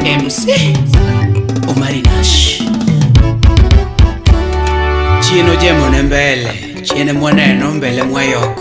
MC Omari Nash Chino jemone mbele Chine mwaneno mbele mwayoko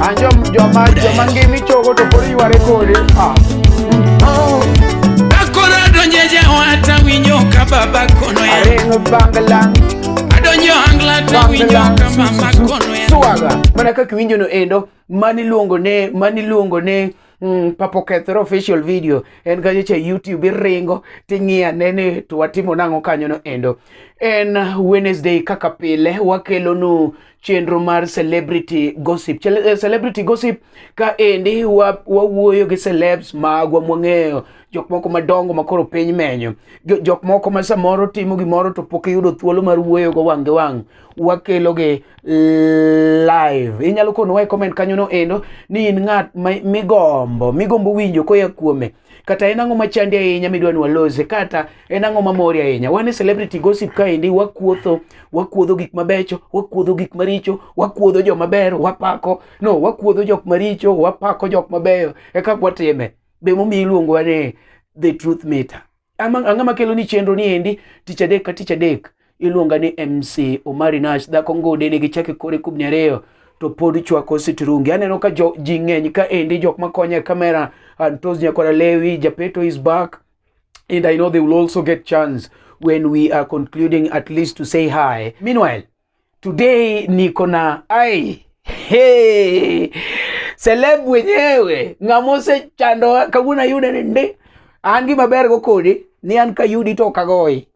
Anjo joma joma ngimi chogo to koro yware kode. Ah. Akora donje jawata winyo ka baba kono ya. Arengo bangala. Adonjo angla ta winyo ka mama kono ya. Swaga. Mana kaka winjo no endo mani luongo ne mani luongo ne Mm, papo kethre official video en kanyo cha youtube iringo ting'iya nene to watimo nang'o kanyo no endo en wednesday kaka pile wakelonu chenro mar celebrity gossip. Eh, celebrity gossip ka endi wawuoyo gi celebs magwa mwang'eyo jok moko madongo ma koro piny menyo jok moko ma samoro timo gimoro to pok iyudo thuolo mar wuoyo go wang' gi wang' wakelo gi live inyalo konowa e comment kanyono endo ni in ng'at migombo migombo winjo koya kuome kata en ang'o machandi ahinya midwa ni walose kata en ang'o mamori ahinya wan e celebrity gossip kaendi wakuotho wakuodho gik mabecho wakuodho gik maricho wakuodho joma ber wapako no wakuodho jok maricho wapako jok mabeyo eka kwatime be momiyo iluongowa ni the truth meter ang'ama kelo ni chenro ni endi tich adek ka tich adek iluonga ni MC Omari Nash dhako ngode nigi chake kore kubni ariyo to pod chwako sitirungi. Aneno ka jo ji ng'eny ka endi jok makonyo e kamera Antos Nyakwara Lewi, Japeto is back and I know they will also get chance when we are concluding at least to say hi. Meanwhile, today niko na ai hey, celeb wenyewe ng'amose chando kawuono ayude ni ndi an gima ber go kodi ni an kayudi to kagoyi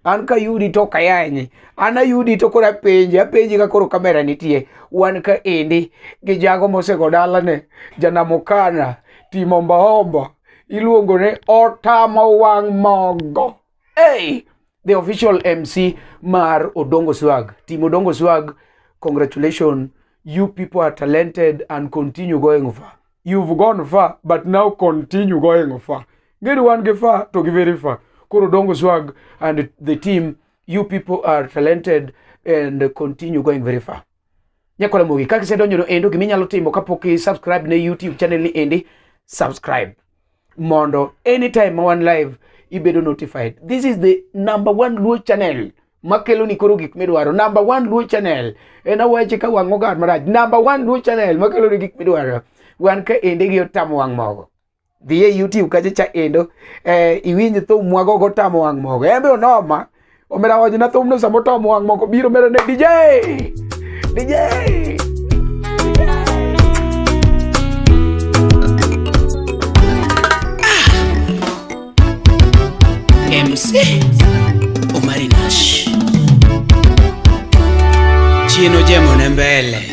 an ka yudi to kayanye an ayudi to koro apenji apenji ka koro kamera nitie wan ka endi gi jago mosego dalane janamokana timombahomba iluongo ne otama wang' mogo hey! the official mc mar odongo swag team odongo swag congratulations you people are talented and continue going far you've gone far but now continue going far ngeri wan gi far to gi very far koro dongo swag and the team you people are talented and continue going very far nyakola mogi kaka isedonjono endo gima inyalo timo kapok i subscribe ne youtube channel ni endi subscribe mondo anytime ma wan live ibedo notified. This is the number one Luo channel makelo ni koro gik midwaro. Number one Luo channel en awache ka wang'o gar marach. Number one Luo channel makelo ni gik midwaro. Wan ka ende gi otamo wang' mogo. Dhiye YouTube kacha cha endo eh, iwinj thum mwago gotamo wang' mogo. Embe onoma Omera waje na thumno sama otomo wang' moko biro mera ne DJ. DJ. MC Omari Nash Chino jemo ne mbele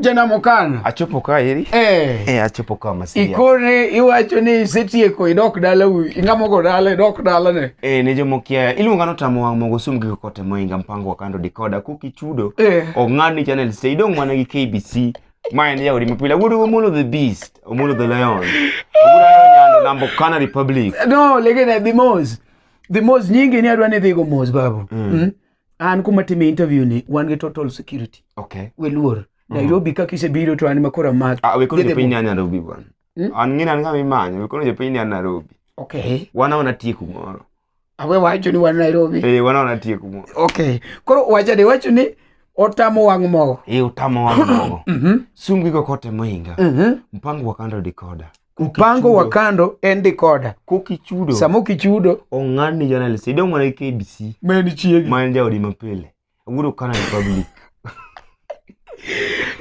Jana mokana. Achopo ka eri. Eh. Eh, achopo ka masia. Ikone iwacho ni isetieko idok dala u ingamo go dala idok dala ne. Eh, ne jomo kia iluonga no tamo wang mogo sum gi kote moinga mpango wakando decoder kuki chudo. Eh. Ongani channel stay dong mana gi KBC. Mayan ya uri mapila wudu omolo the beast, omolo the lion. Omolo nyando nambo kana republic. No, legene the most. The most nyingi ni adwa ni dhigo mos babu. Mm. Mm. an kuma time interview ni wan gi total security okay weluor mm. nairobi kaka isebiro to an makora mak ah we kono jopiny ni nairobi bwana hmm? an ngina an kama imanyo we kono jopiny ni nairobi okay wana wana tie kumoro awe wacho ni wan nairobi eh wana wana tie kumoro okay koro wacha de wacho ni otamo wang' mogo e otamo wang' mogo mm -hmm. sungu iko kote moinga mm -hmm. mpango wakando dikoda Mpango wa kando en decoder. Kokichudo. Samo kichudo. Ong'ad ni journalist. Idong' mana KBC. Ma en chiegi. Ma en jaodi mapile. Aguro kana ni public.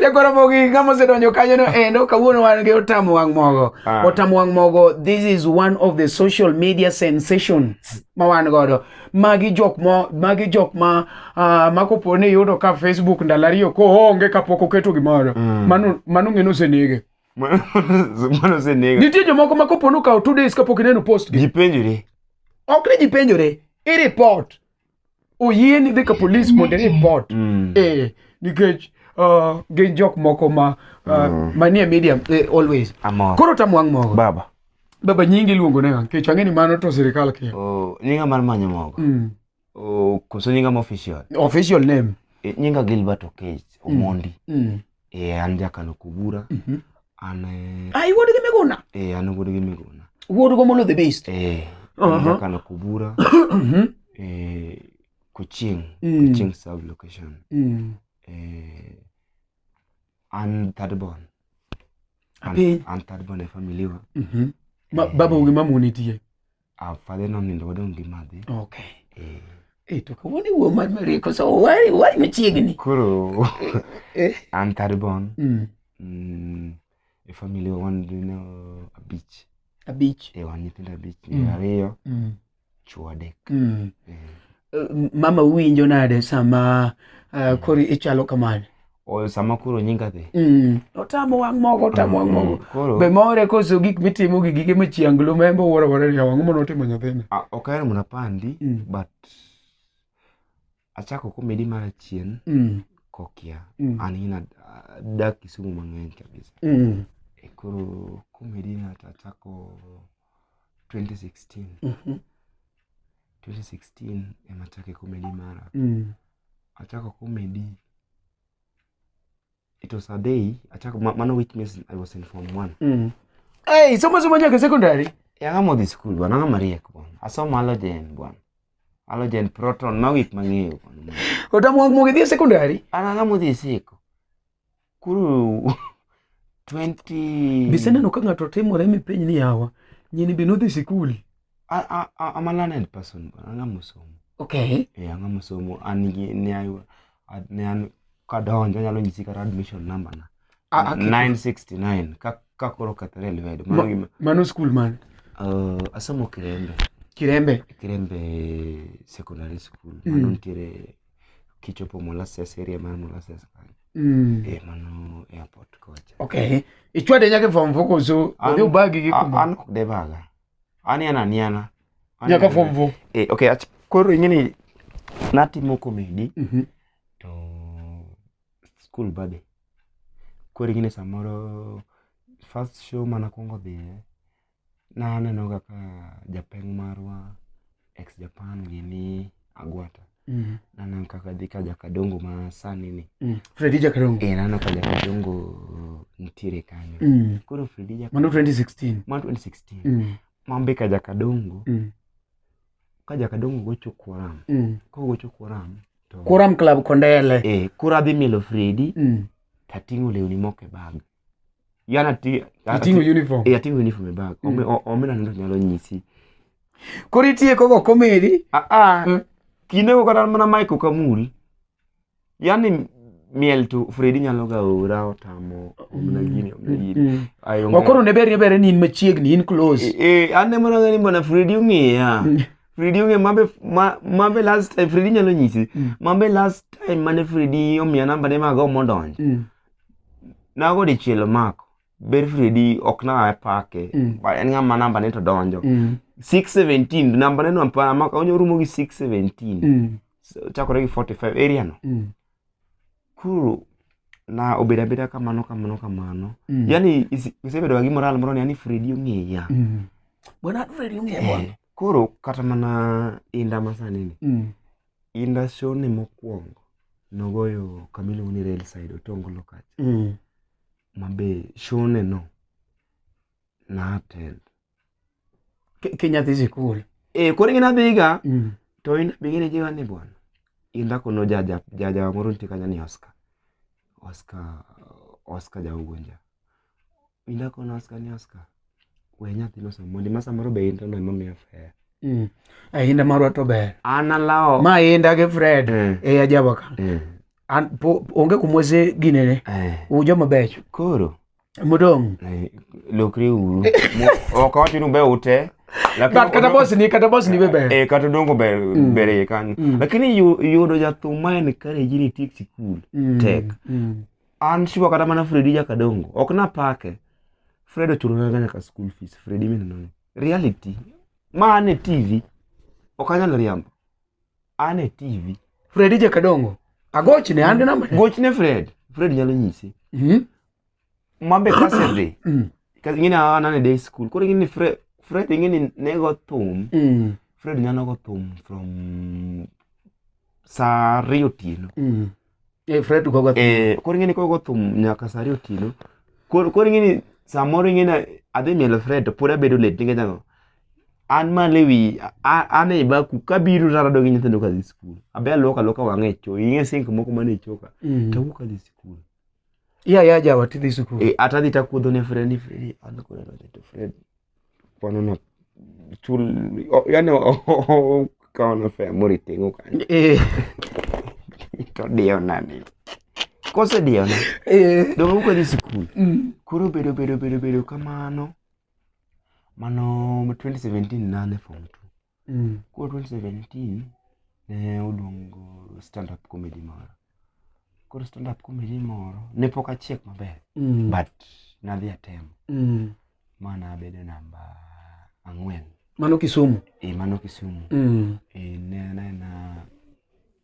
Jagoro mogi ng'ama osedonjo kanyo no endo kawuono wan gi otamo wang' mogo. Ah. Otamo wang' mogo this is one of the social media sensations ma wan godo. Magi jok mo magi jok ma uh, ma kopo ni yudo ka Facebook ndalo ariyo ko onge kapok oketo gimoro. Mm. Mano mano ng'eno osenege. Mano osenega. Nitie jomoko ma kopo nokawo two days kapok ineno post gi. Jipenjore. Ok ni jipenjore, i report. Oyie ni dhi ka polis mondo i report. Mm. Eh, nikech uh, gin jok moko ma uh, mm. manie media eh, always. Amor. Koro tamwang' mogo. Baba. Baba nyingi iluongo ne nikech ang'e ni mano to sirikal kia. Oh, nyinga mar manyo mogo. Mm. Oh, koso nyinga ma official. Official name. E, nyinga Gilbert Okech mm. Omondi. Mm. Mm. E, an jakalo kubura. Mm -hmm. An e... Ah, iwuod gi Miguna? E, an iwuod gi Miguna. Wuod go mono the best. E, uh -huh. jakalo kubura. Mhm. e, Kuching. Mm. Kuching South location. Mm. E, an third born. An, an third born e family wa. Mhm. Mm ma, e, baba ungi mamu nitie. Afadhe ah, no nindo wadong gi madhi. Okay. Eh. Eh, to kawuono wuo mar mariko so wari wari machiegni. Koro eh. an third born. Mm. Mm. E family wa wan dino abich. Abich. Eh, wan nyithindo abich. Mm. Ariyo. Mm. Chuo adek. Mm. Eh. Eh, mama uwinjo nade sama uh, koro ichalo kamano sama koro nyinga dhi mm. otamo wang' mogo otamo wang' mogo mm, be more koso gik mitimo gi gige machianglo ma embo wuoro wuoro ni wang'o mono otimo nyathina ah, ok ahero mana pandi mm. but achako komedi mar achien kokia an ina dak kisumu mang'eny kabisa e koro komedi na achako 2016 mm -hmm. 2016 ema chake komedi mara mm. achako komedi it was a day achako ma, mano which means i was in form one mm. hey, somo somo nyaka secondary yangamodhi skul bwana nga mariek bwana asomo alojen bwana alojen proton ma wik mang'eyo bwana otamwok mok idhi e secondary an angamodhi e siko koro 20 biseneno ka ng'ato timore mipiny ni yawa nyini be nodhi sikul I, I, I- I'm a learned person bwana anga musomo okay eh anga musomo an gi ne ayu ne an kadonjo anyalo nyisi kata admission number na Ah, ah, kik- 969 ka ka koro kathare lwedo Ma- mano gima mano skul man uh, asomo kirembe kirembe kirembe secondary school mano Mm. nitiere kichopo molasses area mar molasses kanyo mm. e mano airport kocha okay ichwade nyaka e form four koso odhi ubagi gi kuma an ok debaga an yana niana nyaka form four eh okay ach koro ingeni natimo comedy mm -hmm. to school bade koro ingeni samoro first show mana kwongo dhiye nanenoga ka japeng marwa ex japan gini agwata mm. naneno kaka dhi ka jakadongo ma sani ni mm. fredi jakadongo e, naneno ka jakadongo nitiere kanyo mm. koro fredi jakadongo mano 2016 mano 2016 mm. mambe ka jakadongo mm. ka jakadongo gocho kuoram mm. kogocho kuoram to kuoram club kondele e, kura dhi milo fredi mm. tating'o lewni moko e bag yana ti Ating'o uniform. e atingo uniform e bag ome o- omena neno nyalo nyisi Koro itieko go komedi. a a Mm. kinde go kata mana mike okamul yani miel to fredi nyalo ga ora otamo omna gini omna gini ayo Wa koro ne ber ne ber ni in machiegni in close. eh ane mana gani bana fredi ong'eya fredi ong'e mabe ma- mabe last time fredi nyalo nyisi mabe last time mane fredi omiya namba ne mago mondonjo Mm. nago dichiel omako ber fredi ok nawe pake Mm. but en ng'ama namba ne to donjo Mm. 617 namba ne no ampana maka onyo rumo gi 617 Mm. So, chakore gi 45 area no Mm. kuro na obedo abeda kamano kamano kamano Mm. yani isi- isebedo gi moral moro ni yani fredi ong'eya Mm. Bwana Alfred ong'eya bwana. Eh, koro kata mana inda masani ni Mm. Industry ni mokwongo nogoyo kama iluongo ni rail side Otonglo kacha. Mm. Ma be show ne no na attend. Kenya dhi sikul. Eh, koro ina dhiga. Mm. To ina bigine jiwa ni bwana. Inda kono jaja jaja moro nitie kanyo ni Oscar. Oscar Oscar Jaugonja. Indakono aska ni aska. We nyathino samondi ma samoro be intono emomiyo fea. Mm. Ahinda marwa to ber. An alawo. Ma ahinda gi Fred. Mm. E ajaba ka. Mm. An po onge kumwese ginene. Eh. Ujo mabecho. Koro. Mudong. Eh, lokri uru. Ok awacho ni ube ute. Lakini kata boss ni kata boss ni be ber. Eh kata dongo ber mm. ber ye kanyo. Mm. Lakini yudo jathum ma en kare jini tik sikul. Mm. Tek. Mm. An sure kata mana Fredi Jakadongo ok napake. Fred ochulona nyaka school fees. Fredi mimi nani? Reality. Ma ane TV. Ok anyal riambo. Ane TV. Fredi Jakadongo. Agochne ande namba. Gochne Fred. Fred nyalo nyisi. Mhm. Mm Mambe kasebe. Mm. ingine awa nane day school koro ingine fred fred ingine nego thum Mm. fred nyalo go thum from saa ariyo otieno Mm. Eh, Fred gogo. eh koro ingine kogo thum nyaka saa ariyo otieno koro koro ingine samoro ingine adhi mielo fred to pod abedo late nikech ang'o an malo ewi a- an e baku kabiro to arado gi nyithindo kadhi skul abe aluoka luoka wang'e e cho ing'e sink moko mane e choka Mm. tawuok adhi skul Iya ya jawa tidhi sukul. Eh, ata dhi takuodho ne Fred ni Fred an koro na to Fred. Kwano na chul yani kawo na fe mori tingo kan. Eh. To dio nani. Kose dio na. Eh. Dongo uko dhi sukul. Mm. Koro bedo bedo bedo bedo kamano. Mano 2017 nane form 2. Mm. Kuo 2017 ne oluongo stand up comedy moro. Koro stand up comedy moro ne pok achiek maber mm. but nadhi atemo. Mm. Ma nabedo namba ang'wen. Mano Kisumu? Eh, mano Kisumu. Mm. Eh, ne anena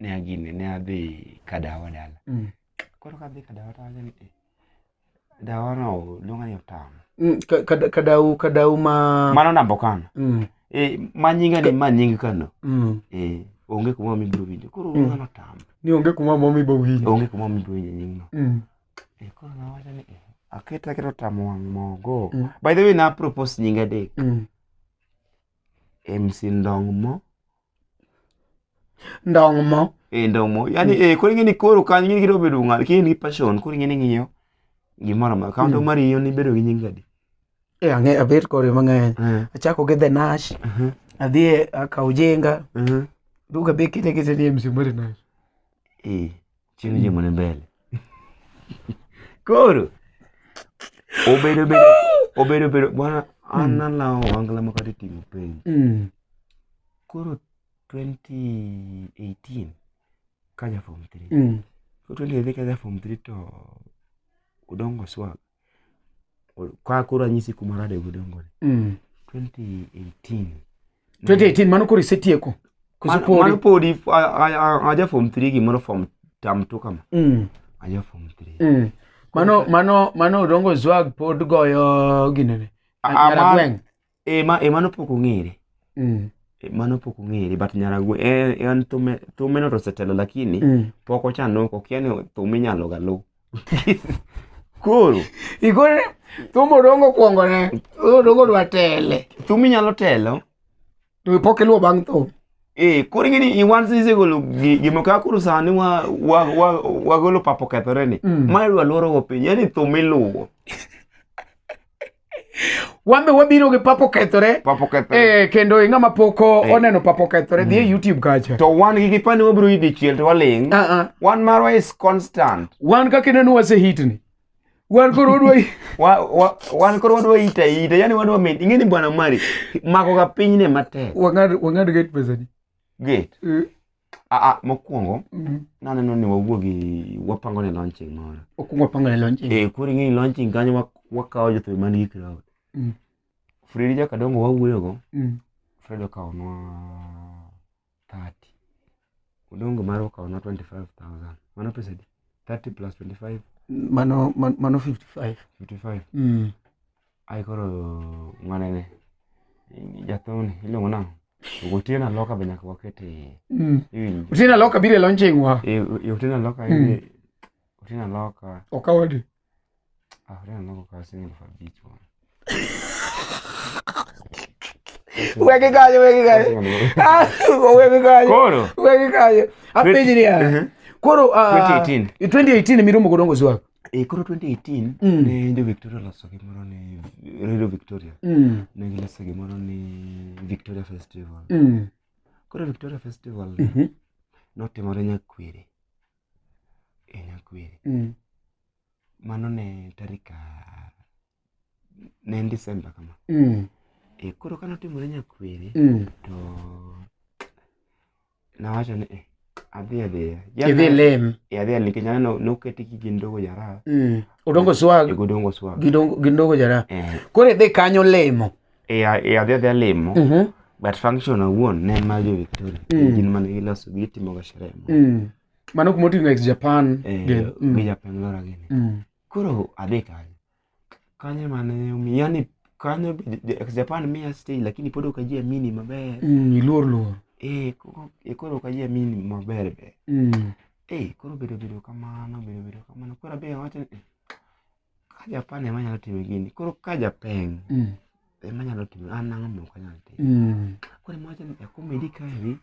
ne agine ne adhi ka dawa dala mm. koro kadhi ka dawa tawacho ni eh, dawa no luonga ni otamo mm, kadawu kadawu ma mano namba okano mm. e, eh, ma nyinga ni ma nying kano mm. e, onge kumoro mibiro winjo koro mm. ngano otamo ni onge kumoro moro mibiro winjo onge kumoro mibiro winjo nyingno mm. e, koro nawacho ni eh, aketa aketa otamo wang' mogo mm. by the way na propose nyinga adek mm. MC Ndong'mo ndong mo e eh, ndong mo yani mm. e eh, koro ing'e ni koro kanyo ing'e ni kidwa bedo ng'ato king'e ni passion koro ing'e ni ng'iyo gimoro amora kaunto mm. mar iyo ni bedo gi nying adi e ang'e abet kore mang'eny eh. achako gi the nash mhm. adhi e akaw jenga mhm. duka be kite kite ni msimori nash e Chieng' jimo ne mbele. Koro obedo bedo obedo bedo bwana an mm. nalawo wangla ma kata timo piny. Mm. Koro 2018 kaja form 3. Mm. Koro 2018 kaja form 3 to udongo swag. ka koro anyisi kuma rade go dongore mm. 2018 2018 mano koro isetieko mano podi aja form 3 gimoro form tam to kama mm. aja form 3 mm. mano mano mano odongo zwag pod goyo ginene aragweng Eh, ma, eh, mano pok ong'ere. Mm. Eh, mano pok ong'ere but nyaragwe eh, eh, an thume thumeno to osetelo lakini Mm. pok ochanok okia ni thum inyalo ga luw koro Igore thum odongo kwongo ne. Thum odongo dwa tele. thum inyalo telo To pok iluwo bang' thum. eh, koro ing'e ni iwan sisegolo gi- gimo ka koro sani wa- wa- wa- wagolo papo kethoreni Mm. ma idwa lworogo piny yani thum iluwo wambe wabiro gi papo kethore papo kethore eh, kendo ing'ama poko eh. oneno papo kethore dhi e mm. youtube kacha to wan gi kipande wabiro yi dichiel to waling uh -uh. wan marwa is constant wan kaka ineno wase hitni wan koro wadwa wa, wa, wan koro wadwa ita ita yani wadwa med ing'e ni bwana mari mako ga piny ne matek wang'ad wang'ad gate pesa ni gate uh. Aa, mokwongo Mhm. naneno ni wawuo gi wapango ne launching moro Okwongo pango ne launching. eh koro ing'e ni launching kanyo wa- wakawo jothum man gi crowd Mm. Fredi jakadongo wawuoyogo Mm. Fred okawonwa 30 Odongo mar okawonwa 25000 mano pesa di 30 plus 25 Mano man- mano 55. 55 Mm. Ai koro ng'wane ne jathumni iluongo nang'o? Otieno aloka be nyaka waket e mm. iwinjo. Otieno aloka biro e launching wa. E, e Otieno aloka mm. e Otieno aloka. Okawo di. Ah, Otieno aloka okawo siling elfu abich wa. Wegi kanyo, wegi kanyo. Ah, wegi kanyo. Koro. Wegi kanyo. Apenji ni ya. Koro 2018 ah, miromo godo ngozi wako. E koro 2018 mm. ne jo Victoria loso gimoro ni Radio Victoria mm. ne giloso gimoro ni Victoria Festival mm. koro Victoria Festival mm -hmm. notimore Nyakwiri e Nyakwiri mm. mano ne tarik ne en Desemba kama. Mm. E, koro kane otimore nyakwere mm. to nawacho ni eh, adhi adhiya. Idhi lem. E, adhi nikech naneno noketi gi gindogo jara. Mm. Odongo swag. E, godongo swag. Gidongo, gindogo jara. E. Koro idhi kanyo lemo. E, e adhi adhiya lemo. Mm -hmm. But function awuon ne en mar jo Victoria. Mm. Gin mane giloso gitimoga sherehe. Mm. Mano kuma oting'o ex Japan. Eh, mm. gi Japan lora gini. Mm. Koro adhi kanyo. Kanyo mane omi yani kanyo Japan miya stay lakini pod ok ajiamini maber. Mm, iluor luor. Eh, koro eh, koro ok ajiamini maber be. Mm. Eh, koro bedo bedo kamano, bedo bedo kamano. Koro abe awacho ni eh, ka Japan ema nyalo timo gini. Koro ka Japeng. Mm. Ema nyalo timo an ang'o mok anyal timo. Mm. Koro ema wacho ni akomedi kaeri.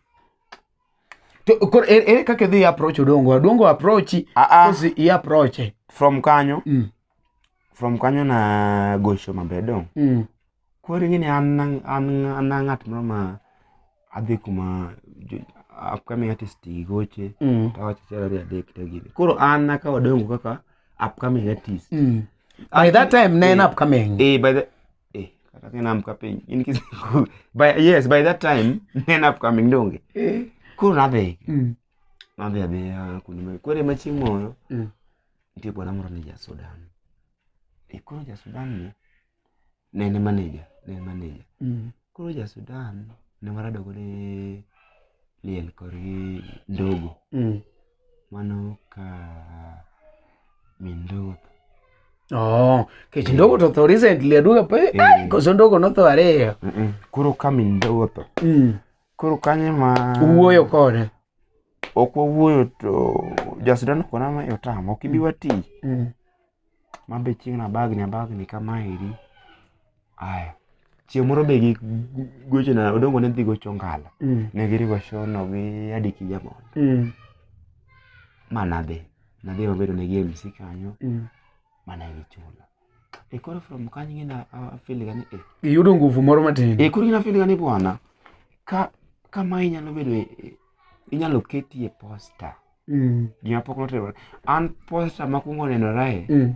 To koro ere ere kaka idhi approach Odongo? Odongo approach Ah, ah. kosi i approach. e? from kanyo Mm. from kanyo na gocho maber dong Mm. koro ing'e ni an na- an an na ng'at moro ma adhi kuma jo- upcoming artist goche Mm. tawacho achiel ariyo adek to gini koro an naka odongo kaka upcoming artist Mm. By that time ne en upcoming. eh by the Eh, kata ka nam ka piny. In kis by yes, by that time nen upcoming donge. Eh. Koro nadhi. Mm. Nadhi adhiya kuonde ma koro ema chieng' moro. Mm. Nitie bwana moro ni ja Sudan. E koro ja Sudan ni ne en manager, ne en manager. Mm. Koro ja Sudan ne warado godo e liel korgi ndogo. Mm. Mano ka min ndogo tho. Oh, kech ndogo to tho recently aduoga pe. Eh. Ai, koso ndogo notho ariyo. Mm -mm. Koro ka min ndogo tho. Mm. Koro kanye ma uwuoyo kode. Ok wawuoyo to jasidano kona ma otamo, ok ibi mm. wati. Mm. mabe chieng' na bagni abagni kamaeri. Aya, chieng' moro be gi gochona odongo ne dhi gocho ngala. Mm. Ne giriwo shono gi Adiki Jamondo. Mm. Ma nadhi, nadhi mabedo ne gi MC kanyo. Mm. Mana gichula. E koro from kanyo ngina afili gani e. Eh. Iyudo nguvu moro matin. E koro ngina afili gani bwana. Ka kama inyalo bedo e, e, inyalo ketie posta. mm. gima pok notimore an posta makwongo nenorae mm.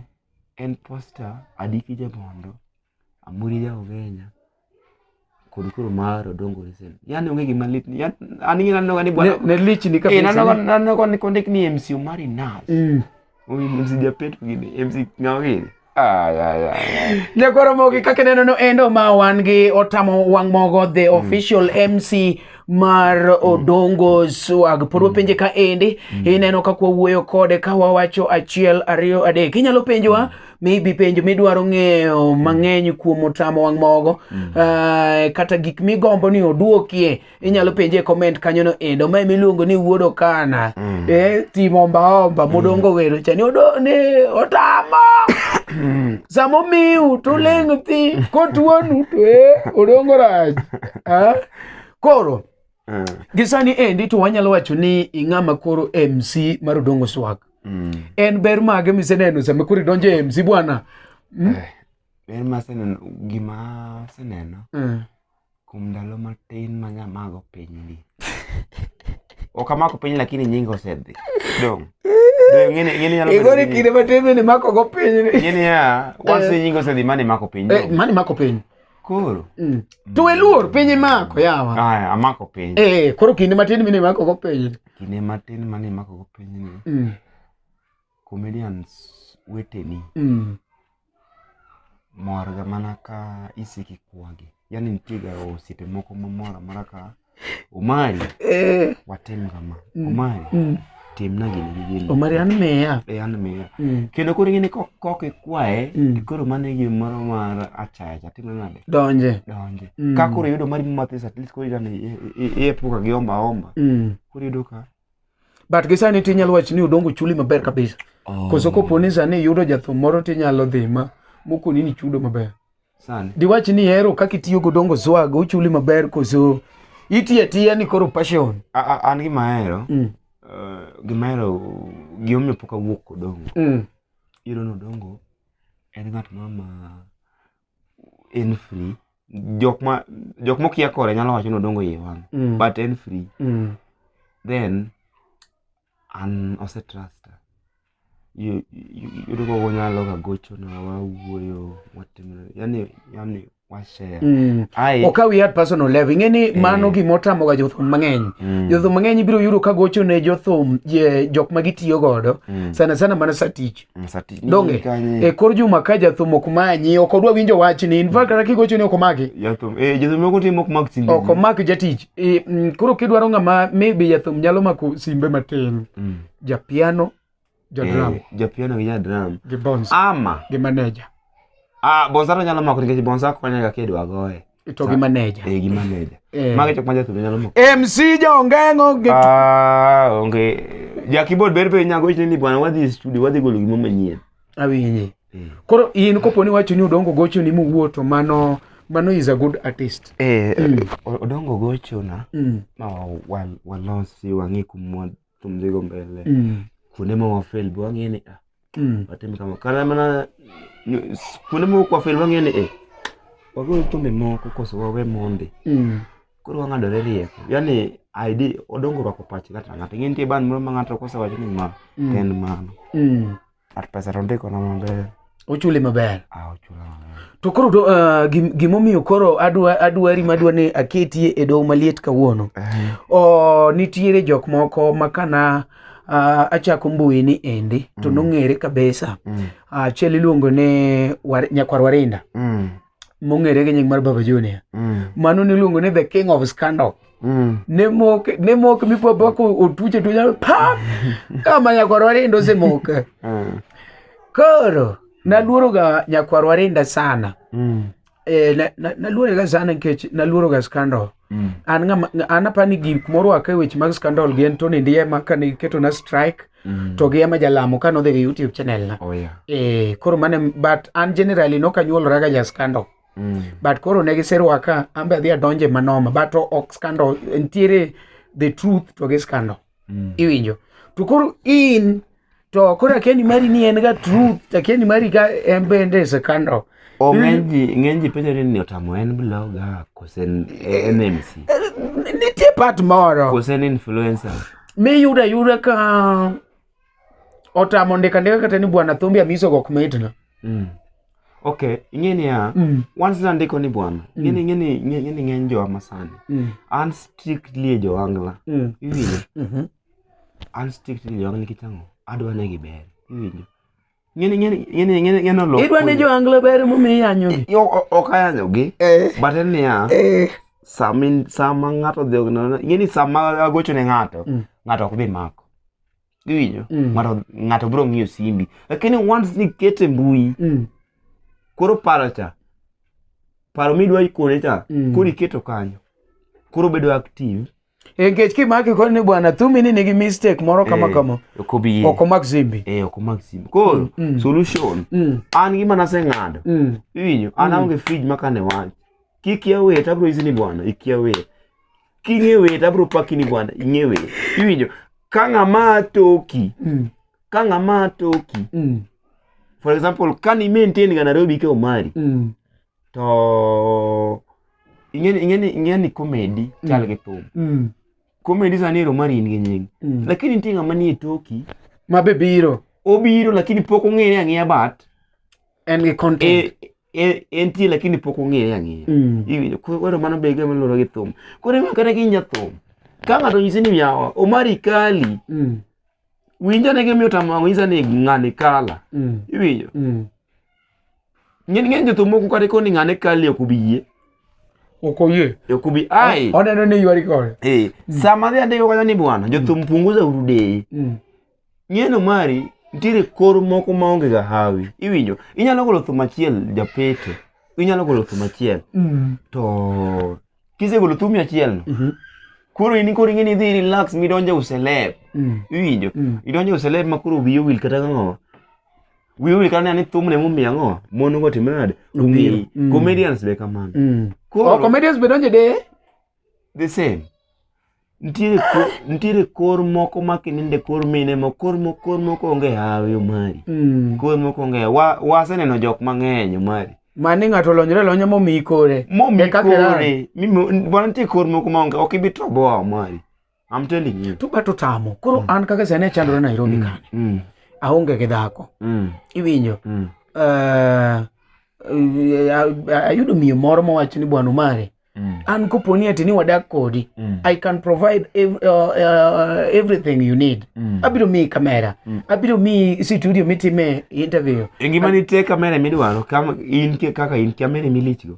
en posta adiki jamondo amuri ja ogenya kod koro mar odongo risen yani onge gima lit ni an ngina no gani bwana ne lich ni kabisa eh nano nano kon kondik ni MC Omari Nas mm. Uy, MC Japet gini, MC ng'aw gini. Jagoro mogi kaka neno no endo ma wan gi otamo wang' mogo the mm. official MC mar mm. Odongo Swag. Pod wapenje mm. ka endi ineno ka kwa wuoyo kode ka wawacho achiel ariyo adek. Inyalo penjwa maybe penjo midwaro ng'eyo mang'eny kuom otamo wang' mogo uh, kata gik migombo ni oduokie inyalo penje e comment kanyo no endo ma miluongo ni wuod okana mm. eh timo ombaomba mm. modongo wero cha ni odo ni otamo mm. samo miu to mm. leng ti ko tuonu to eh odongo raj ah koro mm. gisani endi to wanyalo wacho ni ing'ama koro MC mar odongo swag mm. en ber mage miseneno sama koro idonjo e MC bwana mm? eh, ber maseneno gima seneno mm. Kuom ndalo matin ma nyamago pinyni. Ok amako piny lakini nyinga osedhi. Dong. Dong ngene ngene nyalo. Igori kinde matin ni mako go piny ni. Ngene ya, once eh. nyinga osedhi mani mako piny. Eh, mani mako piny. Koro. Mm. To we luor piny mako yawa. Aya, ah, amako piny. Eh, koro kinde matin mini mako go piny. Kinde matin mani mako go piny ni. Mm. Comedians weteni. Mm. morga mana ka isiki kwagi yani nitiega osiepe moko mamor amora ka omari eh. watim kama mm. omari mm. timna gini gi gini omari an miya e an miya mm. kendo koro ing'e ni kok ikwaye mm. koro mano e gimoro mar achacha timna nade donje donje mm. ka koro yudo mari mathis at least koro idani iye puka gi omba omba mm. koro yudo ka but gi sani tinyalo wacho ni odongo chuli maber kabisa oh. koso kopo ni sani iyudo jathum moro tinyalo dhi ma mokoni ni chudo maber sani diwach ni hero kaka itiyo go dongo swag ochuli maber koso itiye tiya ni koro passion an gi mahero mm. uh, gi mahero gi omiyo pok awuok kodongo mm. iro no dongo en ng'at moro ma en free jok ma jok mokia kore nyalo wacho ni odongo iye wang Mm. but en free Mm. then an osetrasta You- you- yudo ka wanyalo ga gochona wawuoyo watimre yani yani washare Mm. ai ok awi at personal level ing'e ni mano gima otamoga jothum mang'eny Mm. jothum mang'eny ibiro yudo ka gocho ne jothum je- jok ma gitiyo godo Mm. sana sana mana sa tich donge e kor juma ka jathum ok manyi ok odwa winjo wachni in fact kata kigochoni ok omaki eh, jathum moko timo ok mak simbe ok omak jatich eh, mm, koro kidwaro ng'ama maybe jathum nyalo mako simbe matin mm. japiano jadram eh, japiano gi jadram gi bons ama gi manager ah bonsa to nyalo mako nikech bonsa konyaga kidwa goye to gi maneja eh gi maneja eh. mage chok maja thuno nyalo mo MC Jongengo gi ah onge ja keyboard ber pe nyago ichni ni bwana wadhi studio wadhi golo gimo manyien awinye eh. koro in kopo ni wacho ni odongo gocho ni muwuo to mano mano is a good artist eh mm. odongo gocho na mm. ma walosi wang'e kumwa tumziko mbele mm. kunema wafeli bwangene ah mm. batemi kama kana mana kunema kwa feli bwangene eh wagol tume moko koso wawe monde mm. koro wang'adore rieko yani ID odongruok opach kata ng'ato ng'e nitie ban moro ma ng'ato kosewacho ni ma mm. en mano mm. But pesa to ndiko na maber. Ochuli maber. Ah, ochula maber. To koro do- ah, gim- gimomiyo koro adwa adwari madwa ni aketie e doho maliet kawuono. Eh, O, nitiere jok moko ma kana ah, achako mbui ni endi to nong'ere kabisa. mm, Achiel iluongo ni War- nyakwar Warinda. mm, mong'ere gi nying mar Baba Junior. Mm. Mano niluongo ni the king of scandal. Mm. Ne mok ne mok mi kwa bako otuche tu nyalo pa kama nyakoro arindo se mok. Mm. Koro naluoro ga nyakoro arinda sana. Mm. Eh, na, na, naluoro ga sana nikech naluoro ga scandal. Mm. An ng'ama an apani gik morwaka e weche mag scandal gi en Tony Ndiema kane iketo na strike. Mm. to gi ema jalamo ka nodhi gi YouTube channel na. Oh, yeah. Eh, koro mane but an generally no kanyuolora ga jaskando. Mm. But koro ne giserwa ka an be adhi adonje manoma but to ok skando ntiere the truth to gi skando. Mm. Iwinjo. To koro in to koro akeni mari ni en ga truth, akeni mari ga en bende skando. Mm. O ng'eny ji ng'eny ji penjore ni otamo en blogger kose en en MC nitie part moro kose en influencer. miyudo ayuda ka otamo ndika ndika kata ni bwana thumbi amiso gok mitna Mm. Okay, ing'e niya, Mm. once nandiko ni bwana, ing'e ni ing'e ni ing'e ni ng'eny jowa masani. Mm. An strictly e jowangla. Mm. Iwinjo? Mhm. An strictly e jowangla nikech ang'o? Adwa ne giber. Iwinjo? ngene ngene ngene ngene ngene lo idwa ni jo anglo ber mu mi yanyo gi yo ok ayanyo gi eh. but en ya eh. sama sama ngato dhi ngene ngene sama agocho ne ngato mm. ngato ok bi mako iwinjo mm. ngato ngato bro ngiyo simbi lakini once ni kete mbui mm. koro paro cha paro midwa ikone cha koro iketo kanyo koro bedo active Eh, nikech kimaki koni ni bwana thumi ni nigi mistake moro kama Eh, kama ok obi yie. ok omak zimbi Eh, ok omak simu koro mm. solution Mm. an gima naseng'ado Mm. iwinjo an aonge fridge makane wach kikia wet abro isi ni bwana ikia wet king'e wet abro paki ni bwana ing'e wet iwinjo ka ng'ama toki Mm. ka ng'ama toki Mm. for example kani maintain ga nairobi ke omari Mm. to ing'eni ing'eni ing'eni comedy mm. chal gi thum mm. comedy sani ero mari in gi nying mm. lakini nitie ng'ama nie toki ma be biro obiro lakini pok ong'ere ang'eya bat en gi content e, e, en tie lakini pok ong'ere ang'eya mm. iwinjo koro mano be gima loro gi thum koro ema kata gi nyathum ka ng'ato nyisi ni yawa omari kali mm. winjo ne gimiyo tamo ng'isa ni ng'ani kala mm. iwinjo mm. Ng'eny ng'eny jothum moko kata koni ng'ane kali ok ubi yie. Ok oyie. Ok ubi ai. Oneno ni ywari kode. Eh, sama dhi andiko kanyo ni bwana, jothum punguza uru deye. Mm. Ng'eno mari nitiere kor moko maonge ga hawi. Iwinjo? Inyalo golo thum achiel japete. Inyalo golo thum achiel. Mm. To kisegolo thum achiel no, Mhm. koro in koro ing'eni idhi relax midonjo uselep. Mm. Iwinjo? Mm. Idonjo uselep ma koro wiyi owil kata ng'awa. wiu ni kana ni thum ne mumiya ngo mon go tim nade ung'e mm. comedians be kamano mm. koro oh, comedians be donje de the same ntiere ko, ntiere kor moko ma kininde kor mine mo kor mo kor moko onge hawi omari mm. kor moko onge wa waseneno jok mang'eny omari mane ng'ato olonyre lonya momiyi kore momiyi kore mimi bwana ntie kor moko maonge ok ibi toboa omari I'm telling you. Tuba tutamo. Koro mm. an kaka sene chandore Nairobi mm. kani. Mm. Aonge gi dhako. Mm. Iwinjo. Mm. Uh, ayudo miyo moro mowacho ni bwana Umari. Mm. An kopo ni ati ni wadak kodi. Mm. I can provide ev uh, uh, everything you need. Mm. Abiro mi kamera. Mm. Abiro mi studio mitime interview. Engima ni te kamera midwaro kama in kaka in kamera milichgo.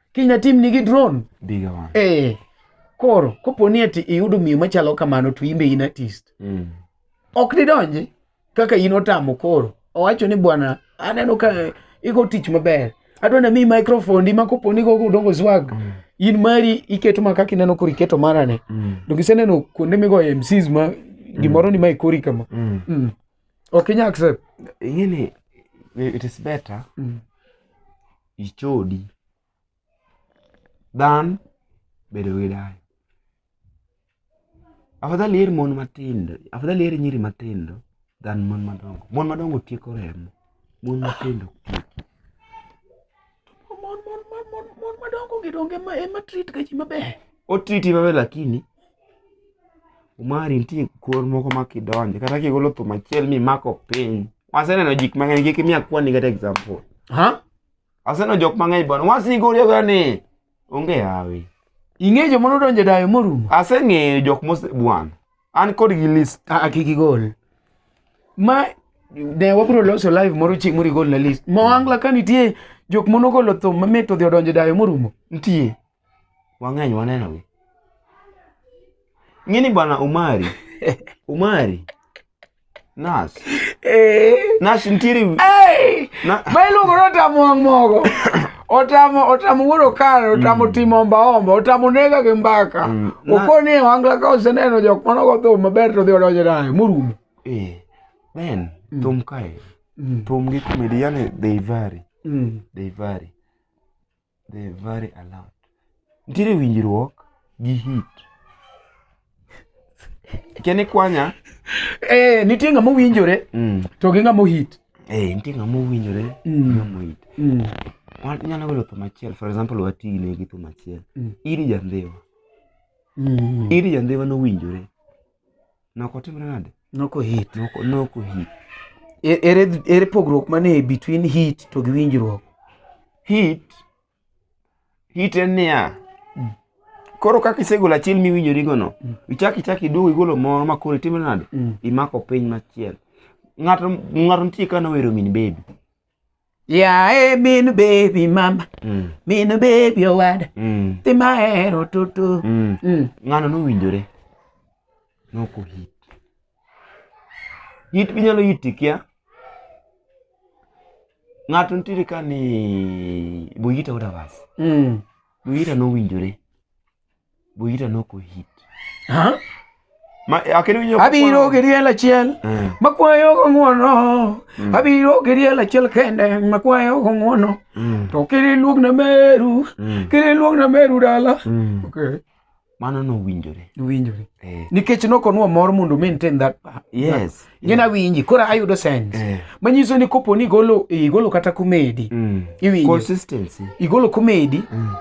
Kinya tim nigi drone. Big one. Eh. Koro kopo ni ati iyudo miyo machalo kamano to imbe in artist. Mm. Ok didonji kaka in otamo koro. Owacho ni bwana aneno ka iko tich maber. Adwa na mi microphone di makopo ni gogo dongo swag. Mm. In mari iketo ma kaka ineno koro iketo marane. Mm. Donge iseneno kuonde migo MCs ma mm. gimoro mm. ni ma ikori kama. Mm. Mm. Ok inya accept. Ing'e ni it is better. Mm. ichodi than bedo gi dayo. Afadhali iher mon matindo, afadhali iher nyiri matindo than mon madongo. Mon madongo tieko remo, mon matindo ok tiek. Mon madongo gi donge ema treat ga ji maber. Otriti maber lakini Omari nitie kor moko ma kidonje kata kigolo thum achiel mimako piny. Waseneno jik mang'eny kik imiya kwani kata example. Ha? Aseneno jok mang'eny bwana. Wasigori agora ni onge hawi. Ing'e joma nodonje dayo morumo? Aseng'eyo jok mose bwana. An kod gi list. Ah, ah kik igol. Ma ne wabro loso live moro chieng' moro igol na list. Mawangla ka nitie jok monogolo thum mamit odhi odonje dayo morumo. Nitie. wang'eny wanenogi. Ng'ini bwana Umari, Umari Nas. Eh. Nas nitiere hey! Na... ma iluongo ni otamo wang' mogo otamo otamo wuoro kare otamo mm. timo ombaomba otamo nega gi mbaka mm. oko ni ohangla ka oseneno jok mano go thum maber to dhi odonjo dayo morumo eh. ben mm. thum kae mm. thum gi komedi yani they vary mm. they vary They vary a lot. Nitiere winjruok gi hit. Kene kwanya. Eh, nitie ng'ama owinjore mm. to gi ng'ama ohit. Eh, nitie ng'ama owinjore mm. ng'ama ohit. Mm. Wanyalo golo thum achiel, for example wati ne gi thum achiel. Mm. Iri jandhiwa. Mm. Iri jandhiwa nowinjore. Noko timre nade? Noko hit. Noko, noko hit. E, ere, ere pogruok mane between hit to gi winjruok? Hit, hit en niya, mm. koro kaka isegolo achiel miwinjorigo no, mm. ichak ichak iduogo igolo moro ma koro itimre nade? Mm. Imako piny machielo. Ng'ato ng'ato nitie ka nowero min bebi. Yae min baby mama, Mm. min baby owada, Mm. dhi mahero toto. Mm. Mm. Ng'ano nowinjore? Noko hit. Hit minyalo hit ikia. Ng'ato nitiere ka ni Boyita Odawas. Mm. Boyita nowinjore. Boyita nok ohit. Ha? Ma akene winyo. Abiro gi riel achiel. Eh. Makwayo go ng'wono. Mm. Abiro gi riel achiel kende makwayo go ng'wono. Mm. To kiri luog na meru. Mm. Kiri luog na meru dala. Okay. Mano no winjore. Winjore. Eh. Nikech nok onwa mor mondo maintain that. Yes. Ngena yeah. winji kora ayudo sense. Eh. Manyiso ni kopo ni golo igolo kata kumedi. Mm. Iwinjo. Consistency. Igolo kumedi. Mm.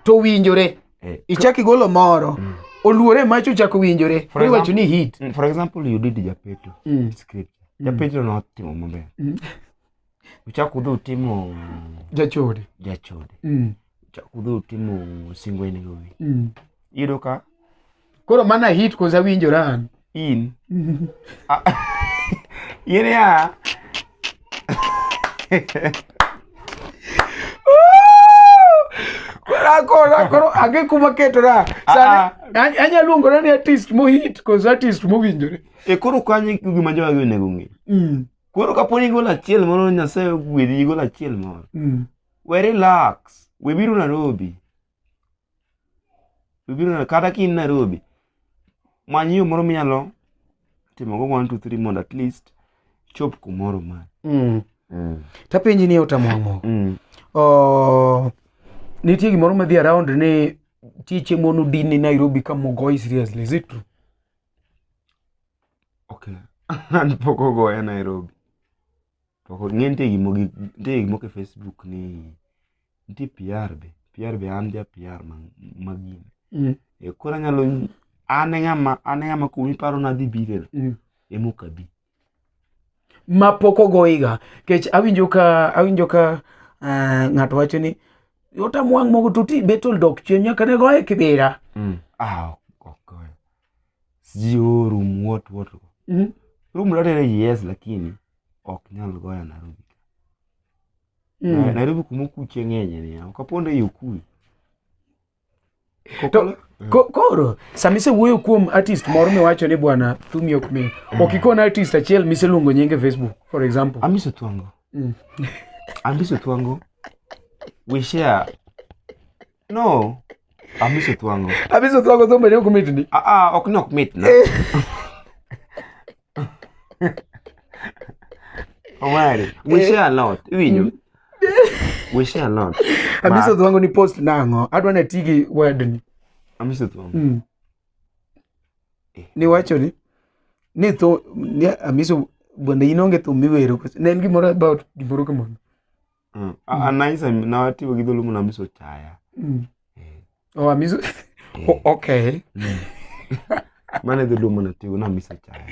to winjore eh, ichak igolo moro mm. oluore macho chako winjore iwacho ni hit mm, for example you did japeto mm. script mm. japeto mm. notimo maber mm. uchak udhi utimo jachode jachode mm. uchak udhi utimo singo in gowi mm. iyudo ka Koro mana hit kosa winjora an. in in ya Kora koro ange kuma ketora. Sana any- anya luongora ni artist mo hit kosa artist mo winjore. e koro kanyo gima jowa gi onego ng'e Mm. koro kapo ni igolo achiel moro nyasaye ogwedhi igolo achiel moro Mm. we relax we biro nairobi Ibiro neno kata ka in Nairobi, many yo moro minyalo timogo one two three mondo at least chop kumoro ma. Mm. Mm. Tapenji ni otamo ang'o? Mm. Oh, nitie gimoro madhi around ni chiche mono din ni Nairobi ka mogoi seriously, is it true? Okay. An pok ogoya Nairobi. To ng'e nitie gik moko nitie gik moko e Facebook ni nitie PR be. PR be an ja PR ma ma gini. Mm. E, koro anyalo an e ng'ama an e ng'ama kuma iparo nadhi bire Mm. ema ok abi. ma pok ogoyiga kech awinjo ka awinjo ka ah, ng'ato wacho ni yotam wang' mogo to ti betol dok chien nyaka ne goye kibira Ah, ok ok goyo. sijui oh, room what what Mhm. room lotere yes lakini ok nyal goya Nairobi Na- Nairobi kuma okuche ng'enye niya ok apondo ei okui To- Ko- koro sama isewuoyo kuom artist moro miwacho ni bwana thumi ok mi ok ikon artist achiel miseluongo nyinge facebook for example Amiso Twango. Mm. Amiso Twango. We share No. Amiso twango. Amiso twango to mbele kumit ni. Ah ah, ok nok mit na. Eh. Omari, we eh. share a lot. Iwinyo. Mm. We share a lot. Amiso twango ni post nango. Adwa na tigi word ni. Amiso twango. Mm. Eh. Ni wacho ni ni to ni amiso bende in onge thum miwero ne en gimoro about gimoro kamano Mm. A- Mm. Anaisa na wati wa gidhulumu na miso chaya. Mm. Eh. Oh, amizo. Eh. O- okay. Mm. Mane dhulumu na tigo na miso chaya.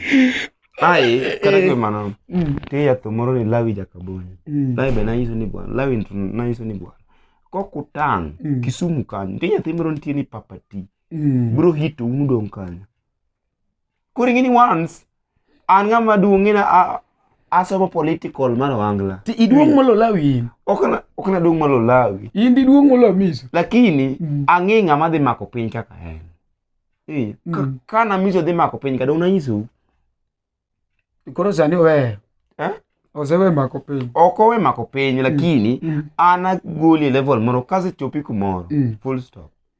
Ai, kata kwe mano. Mm. Te ya tomoro ni lawi jakabonyo. Mm. Lawi be nanyiso ni bwana. Lawi ntu nanyiso ni bwana. Kokutang, Mm. Kisumu kanyo. Te nyathi moro nitie ni papati. Mm. Bro hito unu dong kanyo. Koro ing'e ni once an ng'ama duong' ng'e na a- asomo political mar Ohangla. Ti iduong' molo lawi in. Ok na ok na duong' malo lawi. In diduong' molo amiso. Lakini Mm. ang'e ng'ama dhi mako piny kaka en. Eh, ka- Mm. Ka na miso dhi mako piny ka dong' nanyisou. Koro sani oweyo. Eh? Osewe mako piny. Ok owe mako piny lakini Mm. an agoli e level moro kasechopi kumoro. Mm. Full stop.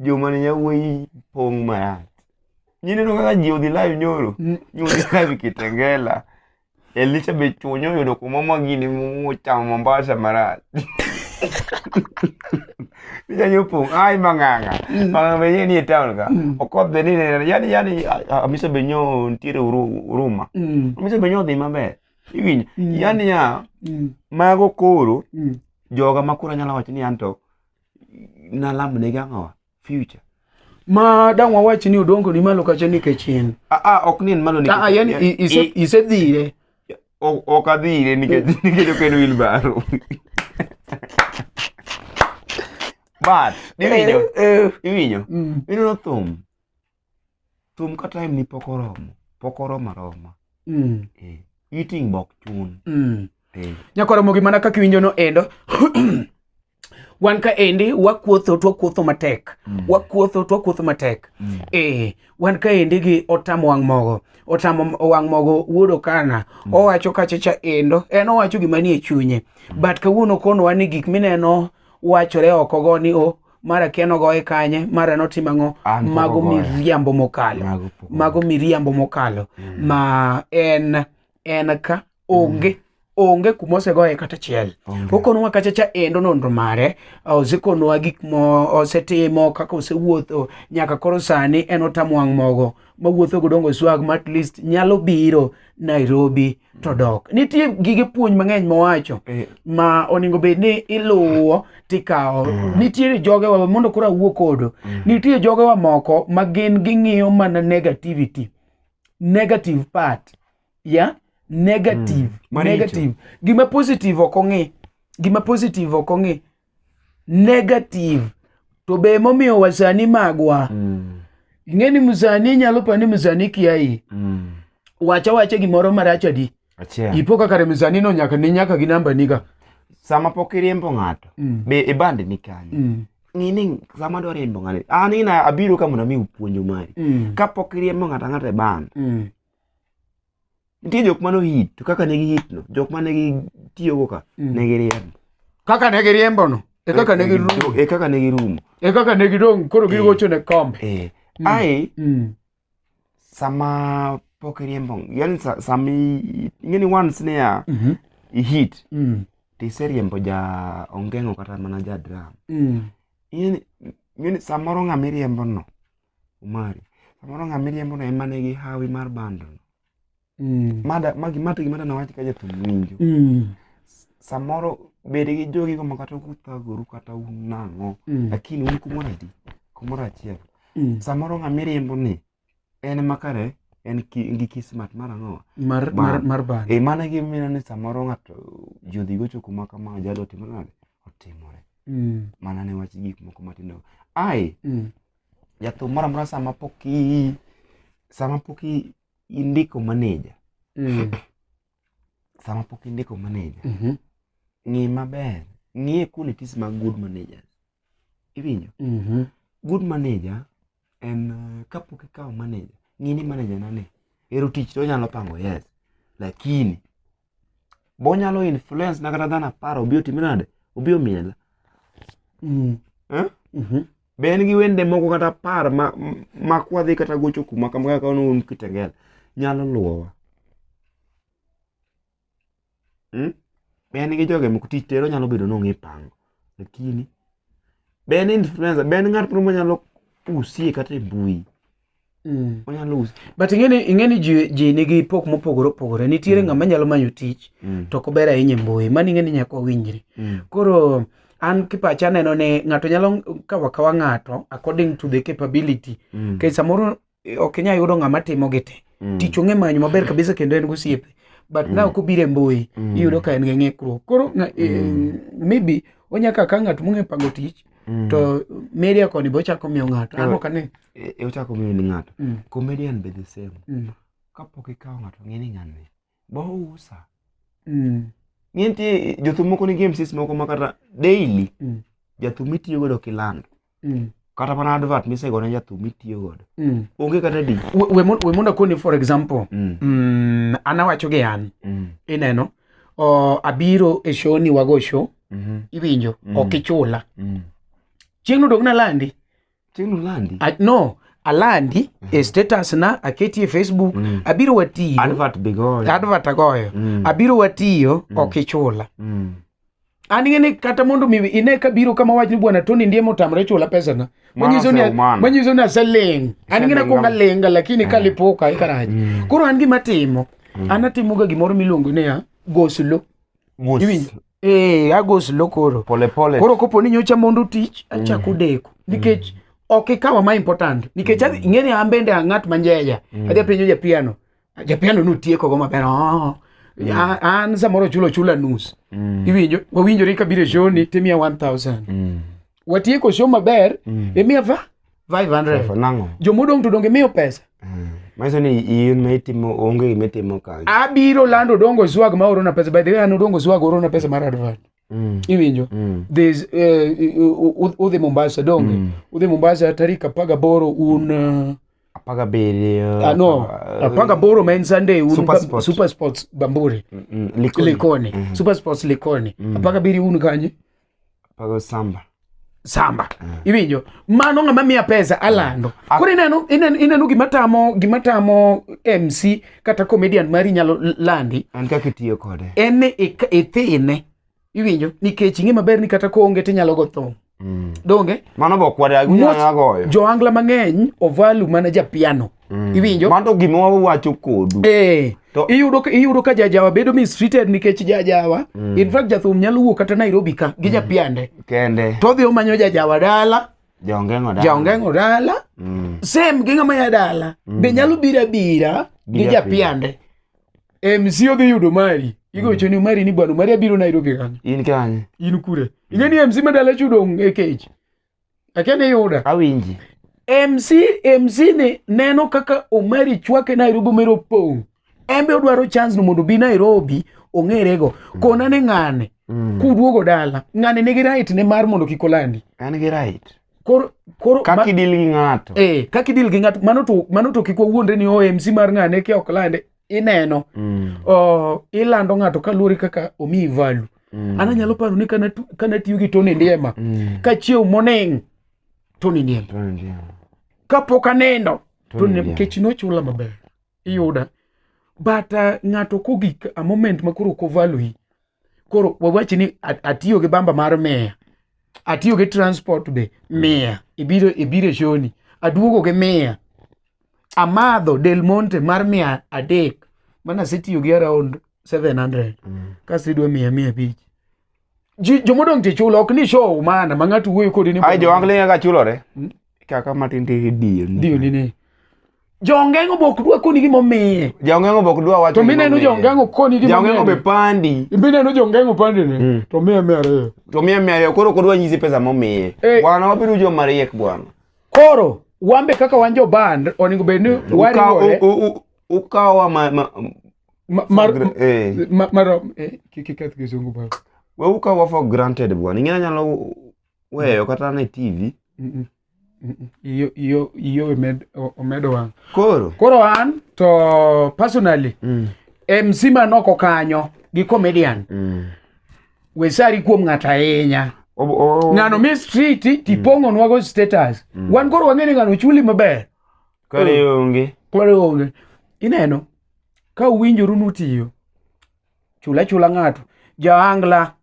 joma ne yawuoyi pong' mayach nyineno kaka ji odhi live nyoro Mm. nyodhi live kitengela elisha be chunyo oyudo kumoma gini mochamo mombasa marach ijanyo pong' ai mang'ang'a mang'ang'a be yie ni e town ka okoth be ni ne- yani yani a- a- amisa be nyo nitiere uru- uruma Mm. amisa be nyo odhi maber iwinjo Mm. yani ya Mm. mago koro Mm. joga ma koro anyalo wacho ni anto nalamo ne gang'awa future ma dang' wawach ni odongo ni malo kacha ni kachien a a ok ni en malo ni ah yani i- ise- isedhire ok ok adhi ire nikech nikech ok en wilbaro but iwinjo Eh, eh, iwinjo mm. ineno thum thum ka time ni pok oromo pok oromo aroma mm. eh, eating bok chun mm. eh. nyakoromogi mana kaka iwinjono endo wan ka endi wakuotho to wakuotho matek mm. wakuotho to wakuotho matek mm. eh wan ka endi gi otamo wang' mogo otamo wang' mogo wuod okana mm. owacho kachacha endo en owacho gima nie chunye mm. but kawuono konowa ni gik mineno wachore oko go ni o oh, mara kia nogoye kanye mara notimo ang'o An pok mago ogoya. miriambo mokalo Mago pok ogoya. mago miriambo mokalo Mm. ma en en ka onge onge kuma osegoye kata achiel Onge. okonwa kacha cha endo nonro mare osekonwa gik mo osetimo kaka osewuotho nyaka koro sani en otamo wang' mogo mawuotho godongo swag ma at least nyalo biro Nairobi to dok. Nitie gige puonj mang'eny mowacho eh. ma onego bed ni iluwo tikawo. Mm. Nitie jogewa mondo koro awuo kodo. Mm. Nitie jogewa moko ma gin ging'iyo mana negativity. Negative part. Yeah? Negative. Mm. Negative. Gima positive ok ong'i. Gima positive ok ong'i. negative to be emomiyo wasani magwa mm. ing'e ni msani inyalo pa ni msani kiai mm. wacha wacha gimoro marach adi ipo kaka remsani no nyaka ni nyaka gi namba niga sama pok iriembo ng'ato mm. be ibande ni kanyo mm. ng'ini sama dwa riembo ng'ani an ina abiro ka mondo mi upuonjo mari mm. ka pok iriembo ng'ato ang'ata e band mm. Nitie jok mano hit, to kaka ne gihit no, jok mane gitiyogo ka, mm. ne giriembo. Kaka ne giriembo no, e eh, kaka ne eh, girumo. E kaka ne girumo. E kaka ne gidong' koro gigocho ne kombe. Eh. Mm. Ae, mm. sama pok iriembo, yani sama ing'eni once ne ya mm-hmm. ihit, to iseriembo ja ongeng'o kata mana ja drum. Ing'eni samoro ng'ama iriembo no, omari samoro ng'a miriembo no ema nigi hawi mar bando no Mm. mada magi mata gima dana wach ka jathum winjo Mm. samoro bed gi jogi go makata ukuthagoru kata unang'o Mm. lakini un kumoro adi kumoro achiel Mm. samoro ng'a miriembo ni en makare en ki- gi kismat mar ang'owa Mar, Bana. mar, mar bana. e mana gimina ni samoro ng'ato jodhi gocho kuma kama jalo otimore nade otimore Mm. mana ne wach gik moko matindo ai Mm. jathum moro amora sama pok i sama pok i- indiko maneja Mm. sama pok indiko maneja Mhm. ng'i maber ng'ie qualities mag good manager iwinjo Mhm. good manager en uh, kapok ikawo manager ng'i ni manager nane ero tich to onyalo pango yes lakini bonyalo influence na kata dhano apar obi otim nade obi omiel mm. eh? mm -hmm. be en gi wende moko kata apar ma, ma kwadhi kata gocho kuma kama kaka ono un kitengela nyalo luwowa mm? be en gi joge moko tich tero nyalo bedo nong'e pango lakini be en influencer be en ng'at moro manyalo usie kata e bui Mm. Onyalo uso. But ing'eni ing'eni ji, ji nigi pok mopogore opogore. Nitiere ng'ama nyalo manyo tich Mm. to ok ber ahinya e mbui. Mano ing'eni nyaka wawinjre. Mm. Koro an kipacha aneno ni ng'ato nyalo kawo akawa ng'ato according to the capability. Mm. Nikech samoro eh, ok inyal yudo ng'ama timo gi te. Mm. Tich ong'e manyo maber kabisa kendo en gosiepe. But Mm. now kobiro e mbui Mm. iyudo ka en gi ng'ikruok. Koro ng'a- eh, Mm. maybe onya kaka ng'at mong'e pango tich Mm. to media koni bochako miyo ng'ato. Aneno ka ni e, e ochako miyo ni ng'ato mm. comedian be the same mm. kapok ikawo ng'ato ng'e ni ng'ani bousa mm. ng'e nitie jothum moko nigi mcs moko ma kata daily mm. jathum itiyo godo kilando mm. kata mana advert misego ne jathum itiyo godo mm. onge kata di we mondo akoni for example mm. mm, an awacho gi an mm. ineno o, abiro e show ni wago show mm -hmm. iwinjo mm. ok ichula mm. chieng' nodog nalandi Tinulandi. I, no alandi mm -hmm. status na aketie facebook mm -hmm. abiro watiyo advert bigoyo advert agoyo mm -hmm. abiro watiyo mm -hmm. ok ichula mm -hmm. an ing'eni kata mondo mi ine ka biro kama wach ni bwana Tony ndiye motamre chula pesana manyiso ni manyiso ni aseling an ing'eni akwong alinga lakini mm. kalipoka ikaraji mm. koro an gima timo mm. an atimoga gimoro miluongo niya goslo Mos. Iwinjo? Eh, agos lokoro. Pole pole. Koro kopo ni nyocha mondo tich, achako mm. deko. Nikech mm. ok ikawa ma important. Nikech mm. ing'eni an bende ng'at manjeja. Mm. Adhi penjo japiano. Japiano nutieko go maber. Oh. Mm. An samoro chulo chula nus. Mm. Iwinjo? Wawinjore kabire shoni timia 1000. Mm. watieko show maber mm. imiya va 500 jomodong' to donge imiyo pesa mm. Maso ni in me timo onge me timo kanyo. Abiro lando dongo swag ma oro na pesa by the way an dongo swag oro na pesa mar advert. Mm. Iwinjo. Mm. There's uh, udhi Mombasa donge. Mm. Udhi Mombasa tarik 18 un uh, apaga bere uh, ah, no uh, apaga boro ma en sunday un super, sport. super sports bamburi mm, mm, likoni, likoni. Mm -hmm. super sports likoni mm. apaga biri un kanye Paro samba. samba mm. iwinjo mano ng'ama miya pesa mm. alando mm. koro ineno ineno, ineno gima tamo gima tamo mc kata comedian mari nyalo landi en kaka itiyo kode en ni ithine iwinjo nikech ing'e maber ni kata koonge tinyalo go thum mm. donge mano bokwade agunyagoyo joangla mang'eny ovalu mana japiano Mm. Iwinjo? Mano gima wawacho kodu. Eh. To iyudo iyudo ka jajawa bedo mistreated nikech jajawa. Mm. In fact jathum nyalo wuok kata Nairobi ka gi mm. japiande. Kende. To dhi omanyo jajawa dala. Jaongengo dala. Jaongengo dala. Mm. Same gi ngama ya dala. Mm. Be nyalo bira bira gi japiande. MC odhi yudo mari. Igocho mm. ni mari ni bwana mari abiro Nairobi kanyo. In kanye? In kure. Mm. Ingeni MC madala chudo e cage. Lakini yuda. Awinji. MC MC ni neno kaka Omari chwake Nairobi omero pong. Embe odwaro chance no mondo bi Nairobi ong'ere go. Mm. Kona ne ng'ane. Mm. Kuduogo dala. Ng'ane nigi right ne mar mondo kik olandi. An gi right. Kor kor kaka idil gi ng'ato. Eh, kaka idil gi ng'ato. Mano to mano to kik wawuondre ni o MC mar ng'ane ke ok lande. ineno mm. oh, ilando ng'ato kaluwore kaka omiyi valu mm. an anyalo paro ni kane atiyo gi tony ndiema mm. kachiew moning tony ndiema kapok anindo to nikech nochula maber iyuda but uh, ng'ato kogik a moment makoro ok ovalui koro wawach ni atiyo gi bamba mar mia atiyo gi transport be mia ibiro ibiro e shoni aduogo gi mia amadho del monte mar mia adek mana asetiyo gi around 700 mm. kasidwa mia mia abich jomodong' tichulo ok ni show mana ma ng'ato wuoyo kodi ni ai jowang' ling'e ka chulore hmm? Kaka matin to idiyo. Diyo ni ne. Jongengo be ok dwa koni gima omiye. Jaongengo bok dwa wacho. To gima mineno omiye. jongengo koni gima Jaongengo be omiye. pandi. Mineno jongengo pande ne. Mm. To miye miya ariyo. To mia mia ariyo koro kodwa nyisi pesa momiye. Eh. Bwana wabedo jo mariek bwana. Koro wan be kaka wan jo band onego bed ni Ukaw- wariwore u- u- u- Ukawa ma ma ma- mar gr- eh. ma- mar eh, kik iketh kisungu baba. we ukawa for granted bwana. Ing'e anyalo weyo kata ne TV. Iyo iyo iyo omedo wang'. Koro koro an to personally mm. MC manoko kanyo gi comedian. Mm. Wesari kuom ng'ato ahinya. Oh, oh. Ng'ano mi street mm. tipong'o mm. nwago status. Mm. Wan koro wang'e ni ng'ano chuli maber. Kare mm. onge. Kare onge. Ineno ka uwinjoru nutiyo chula chula ng'ato jaangla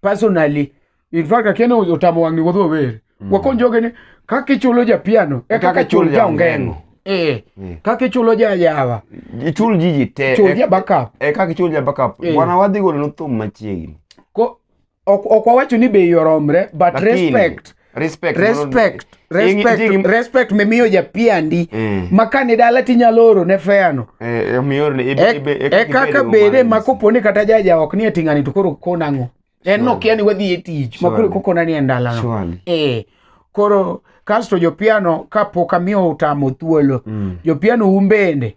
personally in fact akiana otamo wang'ni wuodho wer mm. wakon joge ni kaka ichulo ja piano e kaka chul ja ongeng'o eh mm. kaka ichulo ja yawa ichul jiji te chul ja backup e kaka ichul ja backup eh. wana wadhi golo no thum machiegni ko ok wawacho ni bei oromre but respect respect respect respect Ingi, respect me miyo ja piandi mm. makane dala tinyalo oro ne feyano eh, e, e kaka bede ma koponi kata jaja ok ni e ting'ani to koro konang'o en no kia ni wadhi e tich ma koro kokona ni e ndalano eh koro kasto jopiano kapok amiyo utamo thuolo mm. jopiano un bende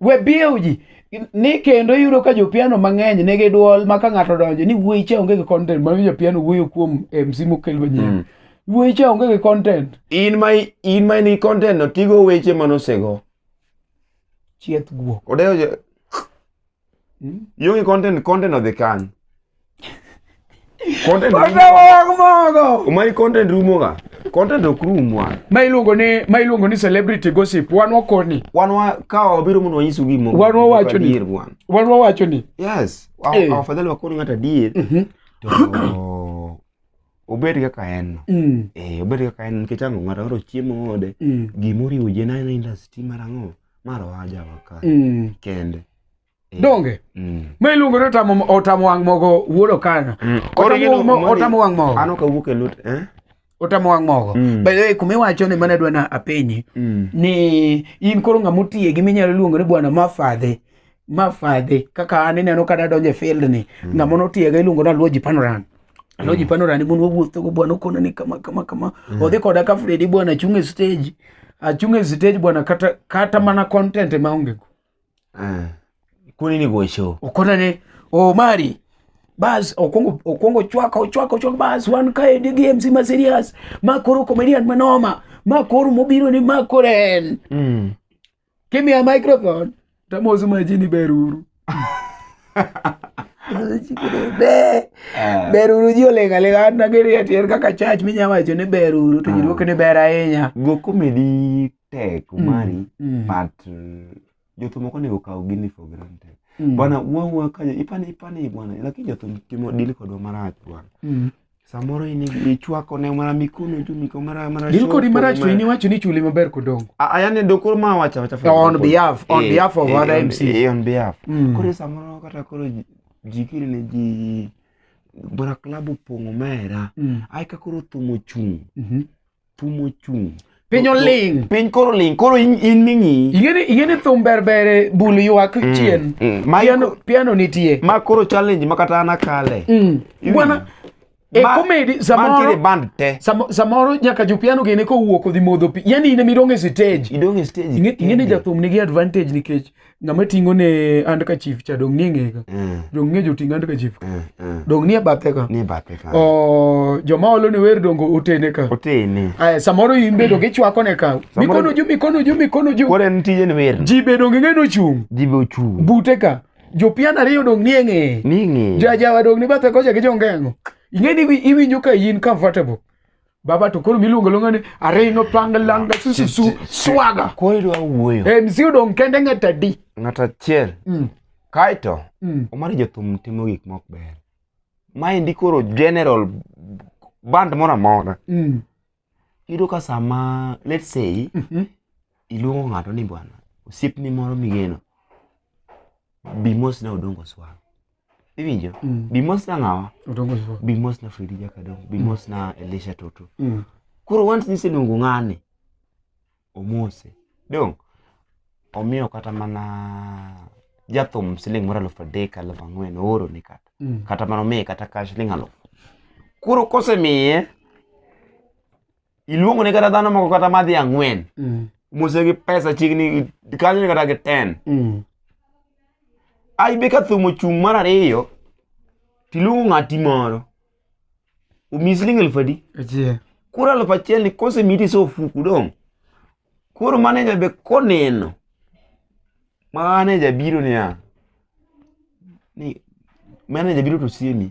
We biewoji ni kendo iyudo ka jopiano mang'eny nigi dwol ma ka ng'ato donjo ni wuoyi cha onge gi content mano japiano wuoyo kuom MC mokel manyien. Mm. Wuoyi cha onge gi content. In ma in ma ni content no tigo weche manosego. Chieth guok. Odeyo Hmm? Ionge content, content odhi kany. Content mogo. Omai content rumo ga. Content ok rum wan. Ma iluongo ni ma iluongo ni celebrity gossip. Wan wakoni. Wan wa ka obiro mondo wanyisu gimo. Wan wawacho ni. Wan wawacho ni. Yes. Eh. Afadhali wakoni ng'ata adier. Mhm. To obed kaka en mm. eh, obed kaka en nikech ang'o ng'ato koro chiemo ode mm. gimoriwo je nine industry mar ang'o Mara waja waka. Mm. Kende. Eh. Donge? Mm. Ma iluongo ni otamo otamo wang' mogo wuodo kanyo. Mm. Otamo wang' mogo. Ano ka wuok e lut, eh? otamo wang' mogo mm. by the way kuma iwacho ni mana dwa na apenyi mm. ni in koro ng'ama otiye gi minyalo luongo ni bwana mafadhe mafadhe kaka an ineno ka dadonjo e field ni mm. ng'ama notiega iluongo ni aluoji panoran Mm. Anoji pano rani munhu wobutho ko bwana ukona ni kama kama kama. Mm. Odhi koda ka Freddy bwana chunge stage. Achunge stage bwana kata kata mana content maonge ko. Mm. Kuni ni gocho. Ukona ni o mari. Bas okongo okongo chwaka chwaka chwaka bas wan kae di game sima serious. Makoro comedian manoma. Makoro mobiro ni makoren. Mm. Kimiya microphone to amoso mana ji ni ber uru. Be, Eh, ber uru ji oling' aling'a an nageri atier kaka church minya wacho ni ber uru to ji dwoko ni ber ahinya. Go comedy tek mari Mm. but uh, jothum ok onego kaw gini for granted. Mm. Bwana uwa uwa kaja ipani ipani bwana lakini jothum timo deal kodwa marach bwana. Mm. Samoro ini ichwako ne mara mikono tu miko mara mara. Dil kodi marach to iniwacho ni chuli maber kodong. Aya ne dokor ma wacha wacha fa. On behalf on eh, behalf of eh, other MC. Eh, on behalf. Mm. Kore samoro kata koro jikiri ne ji bara klabu pongo mera. Mm. Ai ka koro tumo chung. Mm -hmm. thum ochung' Piny To- to- oling'. piny koro ling koro in in ming'i Ing'eni ing'eni thum berbere bul ywak chien. mm. Ma- Piano piano nitie. ma koro challenge ma kata an akale Mm. Iwi- Bwana e Ma- comedy mantiere samoro band te samo- samoro nyaka jopiano gene kowuok odhi modho pi. Yaani in ema idong' e stage. idong' e stage Ing'e- Ing'eni jathum nigi advantage nikech ng'ama ting'o ne and ka chief cha dong' nie ng'eye ka mm. dong' ng'e joting' and ka chief ka mm, mm. dong' nie bathe ka nie bathe ka o joma olo ne wer dongo otene ka otene aya samoro in be donge chwako ne ka mikono ju mikono ju mikono ju kore nitije ne wer ji be donge ng'eno chung ji be ochung bute ka jopian ariyo dong' nie ng'eye nie ng'eye jajawa dong' ni bathe kocha gi jongeng'o ing'e ni iwinjo ka in comfortable Baba to koro miluongo luongo ni arino panga langa susu su swaga. Koro idwa wuoyo. Eh msi odong kende ng'ata di. Ng'ata achiel. Mm. Kaito mm. omar jothum timo gik mok ber. Maendi koro general band moro amora. Mm. Iyudo ka sama let's say mm -hmm. iluongo ng'ato ni bwana osiepni moro migeno bi mos ne odongo swaga. iwinjo mm. bimos na ng'awa bimos na fredi jakadong bimos mm. na elisha toto mm. koro once niseluongo ng'ani omose dong omiyo kata mana jathum siling moro alufu adek alufu ang'wen ooro ni kata mm. kata mana omiye kata ka siling alufu koro kosemiye iluongo ne kata dhano moko kata madhi ang'wen Mm. mose gi pesa chiegni kanyo ni kata gi ten Mm. ai be ka thum ochung' mar ariyo tiluongo ng'ati moro omi siling elfu adi Achiel. koro aluf achiel ni kosemiti iso ofuku dong' koro maneja be koneno maneja biro niya ni maneja biro to siemi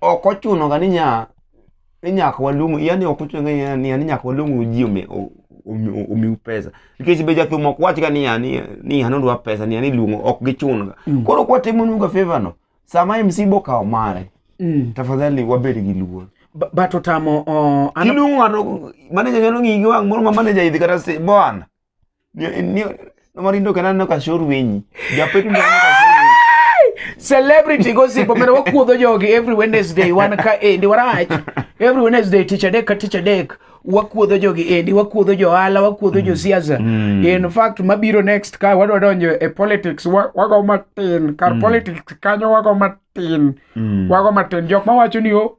ok ochuno ga ni nya ni nyaka waluongo yani ok ochuno ga niya- niya ni nyaka waluongo ji omi- o- omi- omiu pesa nikech be jathum ok wach ga niya ni ni an odwa pesa niya ni luongo ok gichun ga Mm. koro kwatimonu ga favor no sama MC bokawo mare Mm. tafadhali wabed gi luor Ba- But otamo oh, an- kiluongo ng'ato maneja nyalo ng'i gi wang' moro ma maneja idhi kata se- bwana nomarindo kana no kashor wenyi japetu ndano kashor wenyi celebrity gossip omera wakuodho jogi every wednesday wan ka endi warach every wednesday tich adek ka tich adek wakuodho jogi endi wakuodho johala wakuodho josiasa mm. in fact mabiro next ka wadwa donjo e politics wago matin kar mm. politics kanyo wago matin mm. wago matin jok mawacho ni o oh,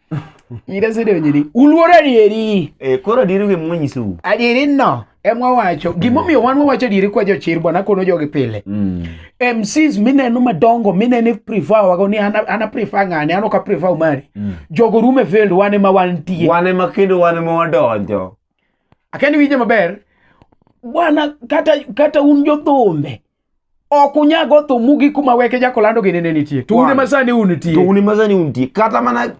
irasede onyiri uluoro adieri Eh, koro adieri gi monyisou adieri no emwa wacho gimomiyo wan wawacho adieri kwa jochir bwana kono jogi pile Mm. mcs mineno madongo mineno prefer wago ni ana, ana prefer ng'ane an ok aprefer omari Mm. jogo rume failed wan ema wantie wan ema kendo wan ema wadonjo akani winje maber bwana kata, kata un jodhumbe ok unyag otho mugi kuma weke jakolando gini ne nitie to une masani unitie to une masani unitie kata mana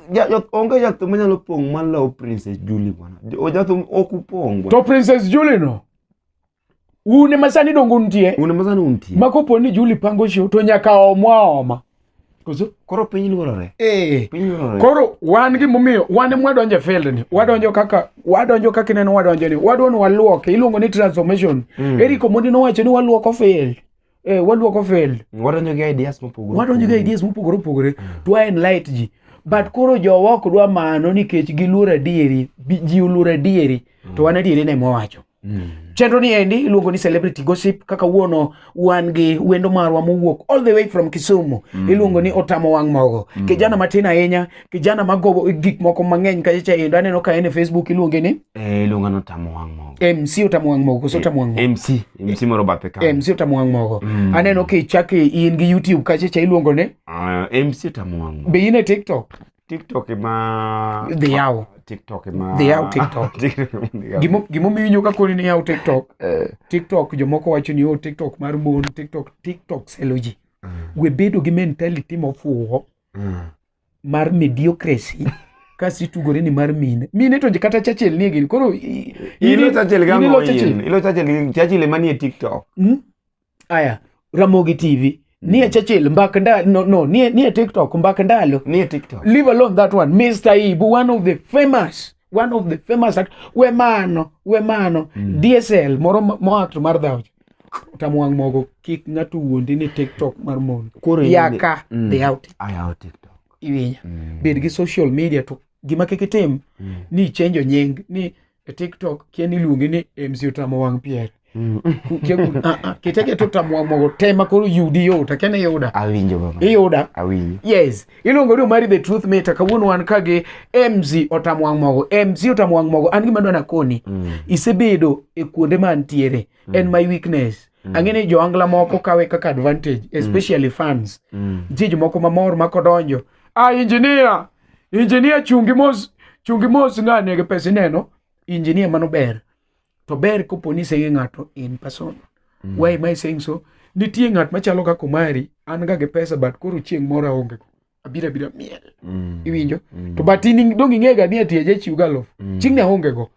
onge jathum manyalo pong' malowo princess julie bwana jathum ok upong' to princess julie no une masani dongo unitie une masani unitie ma kopo ni julie pango show to nyaka omwa oma koro piny luorore eh. piny luorore koro wan gi momiyo wan mwa donjo e field ni wadonjo kaka wadonjo kaka ineno wadonjo ni wadwa ni walwok iluongo ni transformation mm. Eric Omondi nowacho ni walwoko field eh walwoko field mm, wadonjo gi ideas mopogore wadonjo gi ideas mopogore opogore mm. to enlight ji but koro jowa ok dwa mano nikech giluor adieri ji oluor adieri mm. to wan adieri ne mwawacho Mm. Chenro ni endi iluongo ni celebrity gossip kaka wuono wan gi wendo marwa mowuok all the way from Kisumu mm. iluongo ni otamo wang' mogo mm. kijana matin ahinya kijana magobo gik moko mang'eny kachacha endo aneno ka en e Facebook iluonge ni eh iluonga ni otamo wang' mogo MC otamo wang' mogo koso eh, otamo wang' mogo MC MC moro bathe ka MC otamo wang' mogo mm. aneno ki chake in gi YouTube kachacha iluongo ni uh, ah, MC otamo wang' mogo be in e TikTok TikTok ema dhi yawo TikTok ema dhi yawo TikTok. Gimo gimo miwinjo ka koni ni yawo TikTok. Eh. TikTok jomoko wacho ni o oh, TikTok mar mon, TikTok TikTok seloji. Mm. We bedo gi mentality mofuwo mm. mar mediocracy kasi tugore ni mar mine mine to kata chachel ni gini koro ilo chachel ga mo ilo chachel chachel manie tiktok mm? aya Ramogi TV nie mm. Churchill mbak ndalo no, no nie, nie TikTok mbak ndalo nie TikTok leave alone that one Mr Ibu one of the famous one of the famous act we mano we mano mm. DSL moro mo act mar dhawo tamwang mogo kik ng'ato wuondi ni TikTok mar mon koro yaka mm. the out ayawo TikTok iwinyo mm. bed gi social media to gima kik itim mm. ni chenjo nying ni e tiktok kia ni iluonge ni mc otamo wang' pier Mm. Kia kuno, ah, ah, kete kete otamo wang' mogo te ma koro yudi yot akia ni iyuda Awinjo baba. iyuda Awinjo. yes iluongo ni omari the truth meter kawuono wan ka gi mc otamo wang' mogo mc otamo wang' mogo an gima dwa nakoni Mm. isebedo e kuonde ma antiere en my weakness ang'e ni joangla moko kawe kaka advantage especially fans Mm. nitie jomoko mamor ma kodonjo ah injinia Injinia chungi mos, chungi mos ng'ane gi pesa ineno. Injinia mano ber. To ber kopo ni isenge ng'ato in person. Mm. Why am I saying so? Nitie ng'at machalo kaka Omari, an ga gi pesa but koro chieng' moro aonge go. Abiro abira miel. Mm. Iwinjo? Mm. To but in dong ing'ega ni ati ajachiw galof. Mm. Chieng' ni aonge go.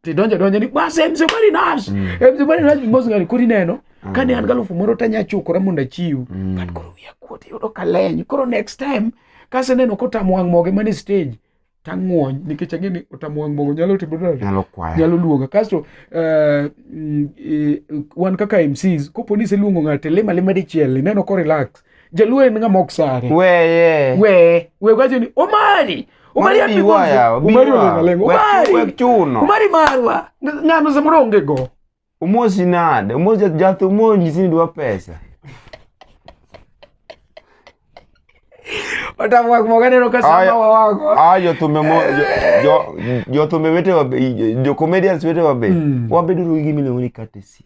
tidonjo donjo ni bas en somari nas mm. en somari nas mos ngani kodi neno ah. kane an galufu moro tanya chukora mondo achiw mm. but koro wiya kuot yudo ka leny koro next time kase neno kotamo wang' moge mane stage tang'wony nikech ang'e ni otamo wang' mogo nyalo timo nyalo kwaya nyalo luonga kasto uh, mm, e, wan kaka MCs kopo ni iseluongo ng'ato e lima lima dichiel ineno ko relax Jaluo en ng'ama ok sare. Weye. Weye. Weye wacho ni Omari. Omari abi waya. Omari olengaleng. Omari. Wek chuno. Omari marwa. Ng'ano samoro onge go. Umosi nade? Umosi jathi umonji sini dwa pesa. Watafuwa kumogane no kasama wa wako. Ah, yo tume mo, yo, yo tume wete wabe, yo comedians wete wabe. Mm. Wabe duru gimi ni unikatesi.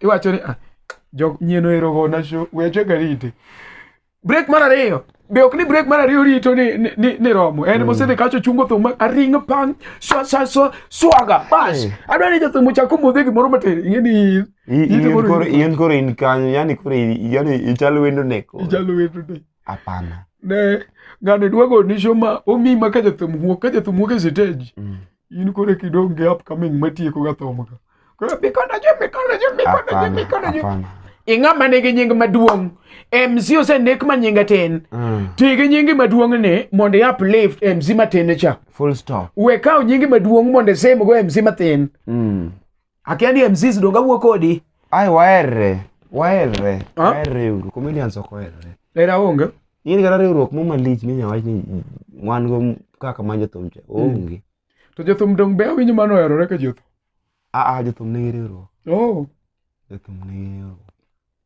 iwacho ni ah, jok nyien ohero gona sho weche garite break mar ariyo be ok ni break mar ariyo rito ni, ni, ni, ni romo en mm. mosedhi kacho chungo thum aring pang swa swa swa swaga bash mm. adwa ni jathum ochako modhe gimoro matin ing'e ni in koro in kanyo yani koro yani ichalo wendo neko ichalo wendo ne hapana ne ng'ani dwago ni shoma omi ma ka jathum huo ka jathum huo e stage mm. in kore kidong gi upcoming matieko ga thum ka koro mikono jo mikono jo mikono jo mikono jo ing'a ma nigi nying maduong' mc osendik ma nyinge tin mm. ti gi nyingi maduong' ni mondo i uplift mc matin cha full stop we kaw nyingi maduong' mondo isim go mc matin mm. Akia ni MCs donga wuo kodi. Ai waere, waere, waere uru. Comedians ok waere. Era onge. Yini kata riwruok mo malich minya wach ni wan go kaka ma jothum cha hmm. onge. To jothum dong be awinjo mano oherore ka jothum. Ah ah jothum nigi riwruok. Oh. Jothum nigi riwruok.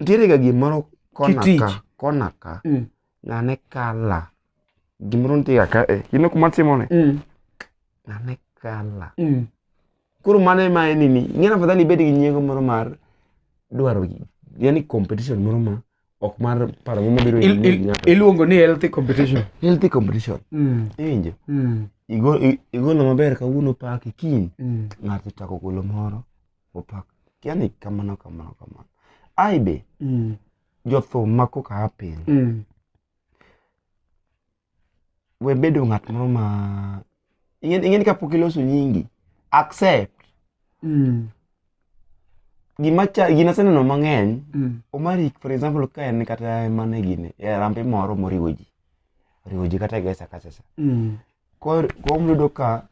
nitiere ga gimoro kona ka Kitich. kona ka Mm. ng'ane kala gimoro nitie ga ka eh, ino kuma timone Mm. ng'ane kala Mm. koro mano ema en nini ing'e na afadhali ibed gi nyiego moro mar dwaro yani competition moro ma ok mar paro muma biro Il- nini il- nyaka. iluongo ni healthy competition healthy competition Mm. iwinjo Mm. Igo- i- igolo maber kawuono paki kiny Mm. ng'ato chako golo moro Opak. Yani kamano kamano kamano. Ai be mm. jothum ma koka a piny mm. we bedo ng'at moro ma ing'eni kapok iloso nyingi accept mm. gima cha gina seneno mang'eny mm. omari for example ka en kata mana gine e rambe moro moriwo ji oriwo ji kata gesa kasesa mm. koro miyudo ka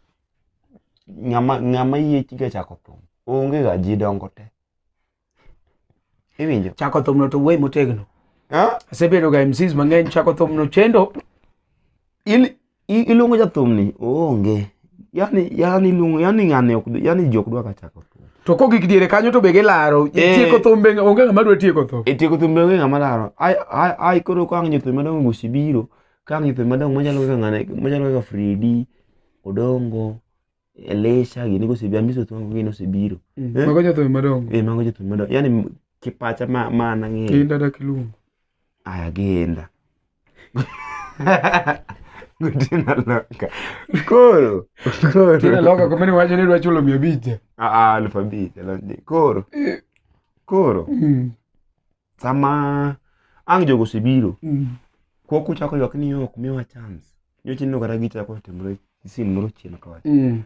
ng'ama ng'ama yie ga chako thum onge ga ji dongo te iwinjo chako thum no to wuoyi motegno asebedo ga mcs mang'eny chako thum no chendo iluongo jathum ni onge yani yani luongo yani ng'ane ok yani jok dwa ka chako thum to ko gik diere kanyo to be gilaro eh. tieko thumbe onge ng'ama dwa tieko thum e tieko thumbe onge ng'ama laro ai ai ai koro ka ang' jothum madongo gosibiro ka ang' jothum madongo machalo kaka ng'ane machalo kaka Fredi Odongo, Elisha gini kosebiro, Amisi Othongo gini osebiro. Mm. Eh? Mago jothum madongo. Eh, mago jothum madongo. Yaani kipacha ma ma nang'eyo. Kinda dak luongo. Aya ginda. Tina loka. Koro. Koro. Tina loka kwa mene wacho ni dwachulo mia abich. Ah, ah, alfu abich. Koro. Koro. Mm. sama ang' jogo osebiro Mm. kwok uchako ywak ni ok miwa chance nyocha ineno kata gichako timre sin moro chien kawacha Mm.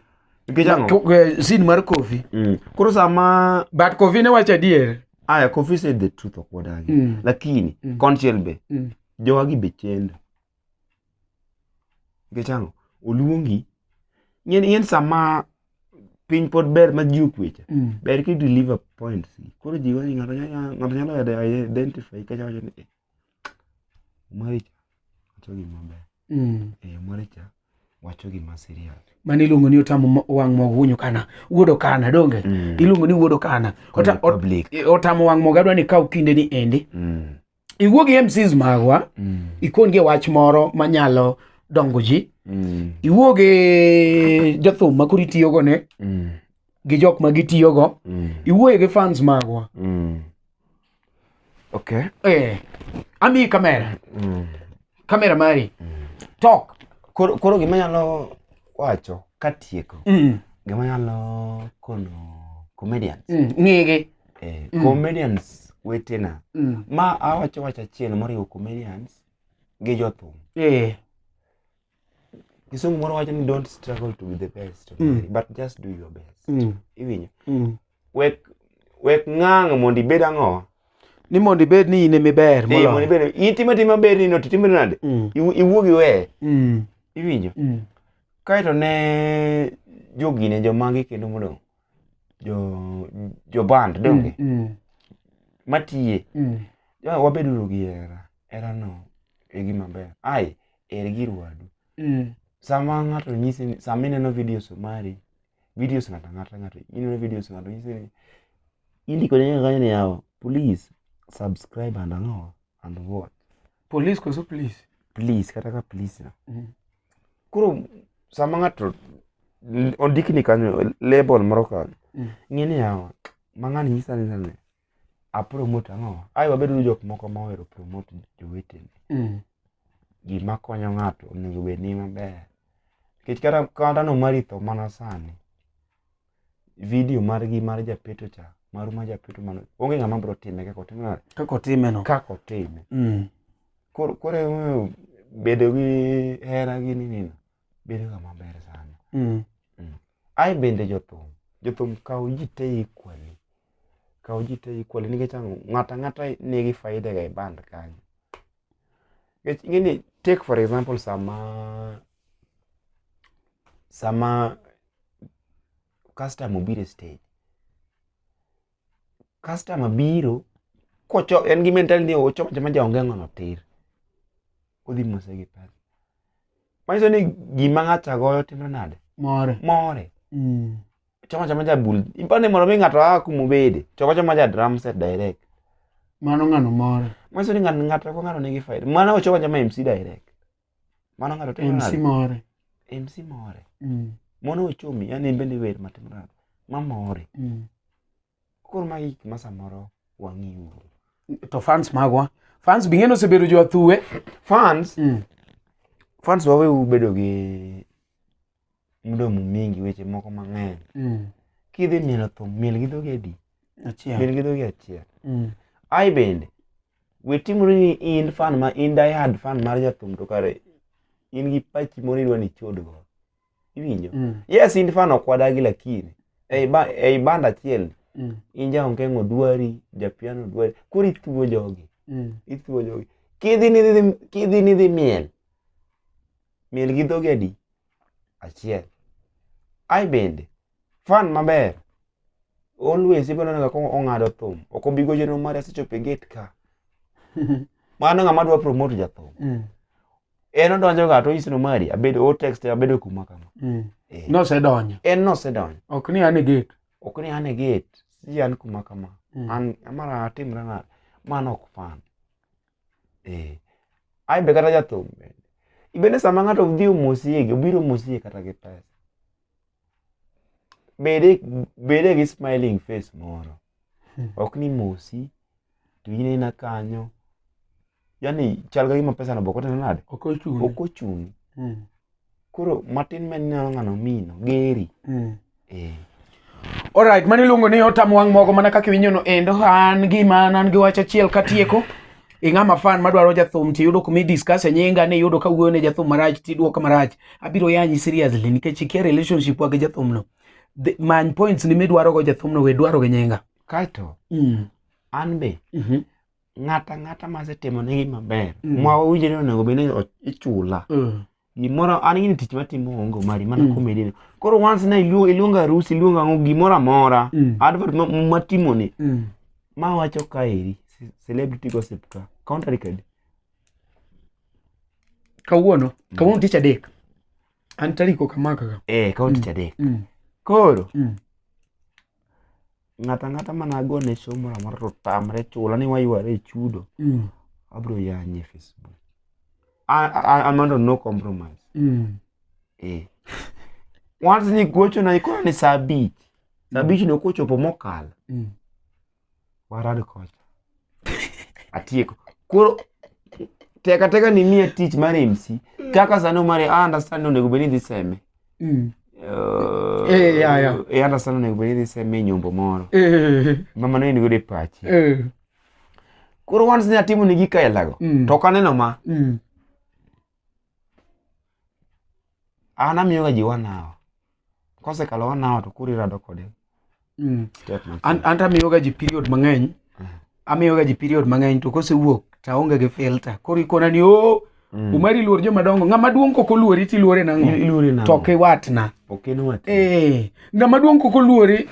nikech ang'o Ko- eh, Sin mar Kofi. Mm. koro sama But Kofi ne wacho adier. aya coffee said the truth ok wadagi Mm. lakini Mm. konchiel be Mm. jowagi be chendo Nikech ang'o? Oluongi. Ng'e ni en sama piny pod ber ma ji okwecha, Mm. ber ki deliver points. Koro ji wani ng'ato nyalo ng'ato nyalo ide- identify ka wacho ni eh, Maricha wacho gima ber. Mm. Eh, Maricha wacho gima serious. mane iluongo ni otamo mo- wang' mogwunyo kana wuod okana donge Mm. iluongo ni wuod okana Kod Ota- ot- Republic. otamo wang' moga dwa ni kaw kinde ni endi Mm. iwuog e MCs magwa mm. ikon gi wach moro manyalo dongo ji mm. iwuog e jothum ma koro itiyogo ne mm. gi jok ma gitiyogo mm. iwuoyo gi fans magwa mm. okay. eh, ami kamera mm. kamera mari mm. tok koro, koro gima nyalo wacho katieko mm. gima nyalo kono comedians mm. ng'igi eh, mm. comedians wetena mm. ma awacho wacha achiel moriwo comedians gi jothum eh. kisungu moro wacho ni don't struggle to be the best mm. but just do your best mm. iwinjo mm. wek wek ng'ang mondo ibed ang'o ni mondo ibed ni in ema iber moloyo itimo tima ber ni no titimo nade mm. iwuog iwe mm. iwinjo mm. kae to ne jogine jomagi kendo modong' jo jo band donge mm, mm. matiye mm. wabeduru gi hera herano e gima ber ai er gir wadu mm. sama ng'ato nyisi sama ineno videos mari videos ng'ato ang'ata ng'ato ineno videos ng'ato nyisi ni indiko ne kanyo ni yawa please subscribe and ang'o and what police koso please please kata ka please na mm. koro sama ng'ato ondikni kanyo label moro kanyo mm. ng'e ni yawa ma ng'ani nyisa ni nane apromote ang'o ae wabed gi jok moko ma ohero promote jowetene mm. gima konyo ng'ato onego bed ni maber nikech kata kata nomari tho mana sani video margi mar japeto cha maru ma japeto mano onge ng'ama bro time kaka otime nade kaka otime no kaka otime mm. koro koro emomiyo bedo gi hera gi ninino bedo ga maber sana mm. mm. ai bende jothum jothum kawo ji te ikwali kawo ji te ikwali nikech ang'o ng'ato ang'ata nigi faida ga e band kanyo nikech ing'eni take for example sama sama customer obiro e stage customer biro kocho en gi mentality ni ocho joma jaonge ng'ono tir odhi mose gi pesa manyiso ni gima ng'acha goyo timo nade more more mm. chama chama ja bul impane mondo mi ng'ato aa kuma obede choko chama ja drum set direct mano ng'ano more manyiso ni ng'ato ng'ato ko ng'ato nigi faida mano ochowa chama mc direct Mano ng'ato timo MC more. MC more. Mm. Mono ochumi, yani en bende wer matin rap. Ma more. Mm. Koro magi gik ma samoro wang'i uru. To fans magwa. Fans bing'e nosebedo jo athuwe. Fans. Mm. Fans wawe ubedo gi mdomo mingi weche moko mang'eny mm. kidhi mielo thum miel gi dhogi adi miel gi dhogi achiel mm. ai bende we timori ni in fan ma in die hard fan mar jathum to kare in gi pachi moro idwa ni chod go iwinjo mm. yes in fan ok wadagi lakini ei ba, e banda achiel mm. in jaongeng odwari japiano odwari koro ithuwo jogi mm. ithuwo jogi kidhi nidhi kidhi nidhi miel Miel gi dhogi adi? Achiel. Ai bende, fan maber. Always ibiro neno kaka ong'ado thum. Ok obi gocho no mara sechopo e gate ka. Mano ng'ama dwa promote jathum. Mm. En odonjo ga to onyiso no mari abedo o text abedo kuma kama. Mm. Eh. Nosedonjo. En nosedonjo. Ok ni an e gate. Ok ni an e gate. Si an kuma kama. Mm. An mara atimra na mano ok fan. eh ai be kata jathum bende ibende sama ng'ato dhi omosiegi obiro omosie kata gi pesa bede bede gi smiling face moro hmm. ok ni mosi to in ina kanyo yani chal ga gima pesa no boko tena nade ok ochuni ok ochuni hmm. Koro matin men nyalo ng'ano mino geri. Mm. Eh. Alright, mani luongo ni otam wang' mogo mana kaka iwinjo no endo an gima an gi wach achiel katieko. Ing'ama fan madwaro jathum tiyudo kumi discuss e nyinga ni yudo ka wuoyo ne jathum marach tidwoko marach. Abiro yanyi seriously nikech ikia relationship wa gi jathum no. The, many points ni midwaro go jathum no we dwaro gi nyinga. Kaito. Mm. An be. Mm -hmm. ng'ato ang'ata ma asetimo ne gima ber mm. ma wawinjo ni onego bed ni ichula mm. gimoro an gini tich matimo ongo mari mana mm. komedi no koro once na iluonga arusi iluonga ang'o gimoro amora mm. advert matimo ni mm. ma wacho kaeri celebrity gossip ka country kadi kawuono mm. kawuono tich adek an tarik okamakaga eh kawuono tich mm. adek mm. koro mm. ng'ata ng'ata ma nagone show moro amora to tamre chula ni wayware e chudo Mm. abro yanye facebook I, I, I'm under no compromise Mm. eh. once ni gocho na ikona ni saa abich saa abich ne okochopo mokalo Mm. warad kocha atieko koro teka teka ni miya tich mar MC kaka sani omari I understand onego bed ni idhi seme Mm. Uh, Eh, yeah, yeah. I understand onego bed ni idhi seme e nyombo moro Eh, mama ne in godo e pachi eh, koro once ne atimo ni gikaelago Mm. to ok aneno ma mm. an amiyoga ji one hour kosekalo one hour to koro irado kode Mm. step machielo. An an to amiyoga ji period mang'eny. Amiyoga ji period mang'eny to kosewuok to aonge gi filter. Koro ikona ni o Mm. umari luor joma dongo. Ng'ama duong' kok oluori to iluore Il- nang'o? iluori nang'o? To ok iwatna. ok en wat Eh, ng'ama duong' kok oluori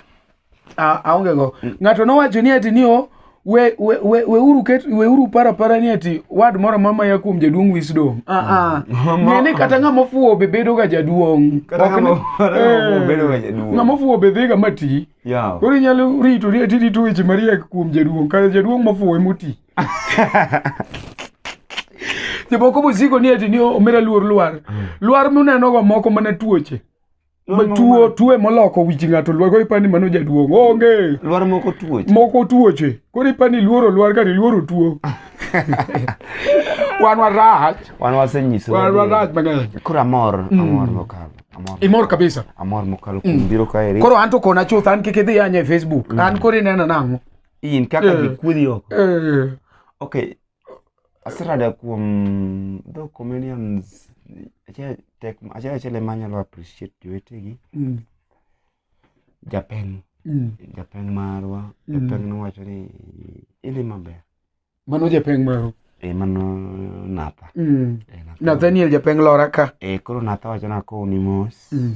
aongego mm. ng'ato nowacho ni ati ni o we we we we uru ket we uru para para ni ati wad moro mama ya kum jaduong wisdom a ah, a ah. mm. ne ne kata nga mofuo be bedo ga jaduong kata nga mofuo bedo ga jaduong nga mofuo be dhiga mati ya kuri nyalo rito ni ati rito weche maria kum jaduong kata jaduong mofuo emuti jomoko mosiko ni ati ni omera luor lwar mm. lwar munenogo moko mana tuoche tuo tuo moloko wich ng'ato lwar koro ipani mano jaduong' onge lwar moko tuoche moko tuoche koro ipani luoro lwar kani luoro tuo wan warach wan wasenyiso wan warach mang'eny koro amor mm. amor mokalo imor kabisa amor mokalo mm. biro kaeri koro an to kona chuth an kik idhi anya e facebook mm. an koro inena nang'o in kaka eh. gikwedhi oko eh. okay asirada kuom though comedians achiel tek achiel achiel ema anyalo appreciate jowetegi Mm. japeng Mm. japeng marwa Mm. japeng nowacho ni idhi maber Mano japeng maru. e mano natha Mm. e, natha. Nathaniel japeng lora ka. e koro natha wachona kowni mos Mm.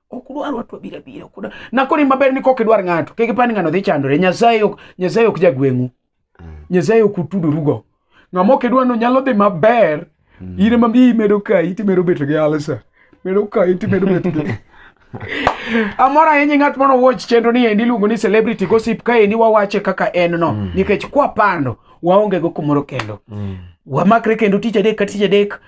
ok dwarwa to biro biro kuda nakoni maber ni koki dwar ng'ato kik ipani ng'ano dhi chandore nyasaye ok nyasaye ok jagweng'u mm. nyasaye ok utudorugo ng'ama ok idwar no nyalo dhi maber mm. in ema miyi medo ka iti medo bedo gi alsa medo ka iti medo bedo gi amor ahinya ng'at mono watch chenro ni endi iluongo ni celebrity gossip ka endi wawache kaka en no mm. nikech kwapando waonge go kumoro kendo wamakre kendo tich adek ka tich adek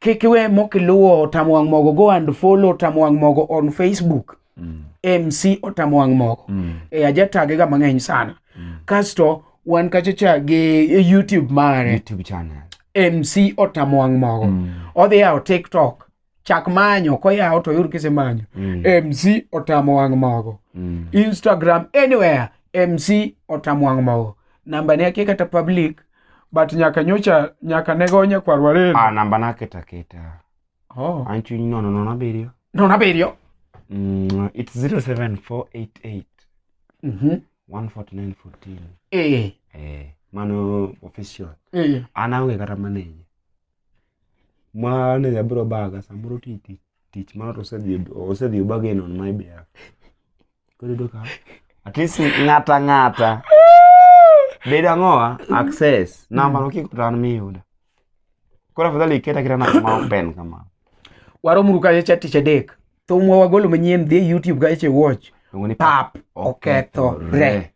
kik iwe mok iluwo otamo wang' mogo go and follow otamo wang' mogo on facebook mm. mc otamo wang' mogo mm. e eh, ajatage ga mang'eny sana mm. kasto wan kachacha gi youtube mare youtube channel mc otamo wang' mogo mm. odhi yawo tiktok chak manyo koyawo to oyud kisemanyo mm. mc otamo wang' mogo mm. instagram anywhere mc otamo wang' mogo namba ne akia kata public but nyaka nyocha nyaka ne go nyakwarwa lendo ah namba naketa keta oh an chuny nono nono abiriyo nono abiriyo mm, it's 07488 mhm 14914 eh eh mano official eh an aonge kata maneja maneja biro baga samoro titi tich mar osedhi osedhi obagen on my behalf koro yudo ka at least ng'ata ng'ata bedo ang'owa access namba no kik tan miyuda koro afadhali iketa keta namba ma open kama waromuru ka cha tich adek thumwa wagolo manyien dhi e youtube ka eche watch Luongo ni pap okethore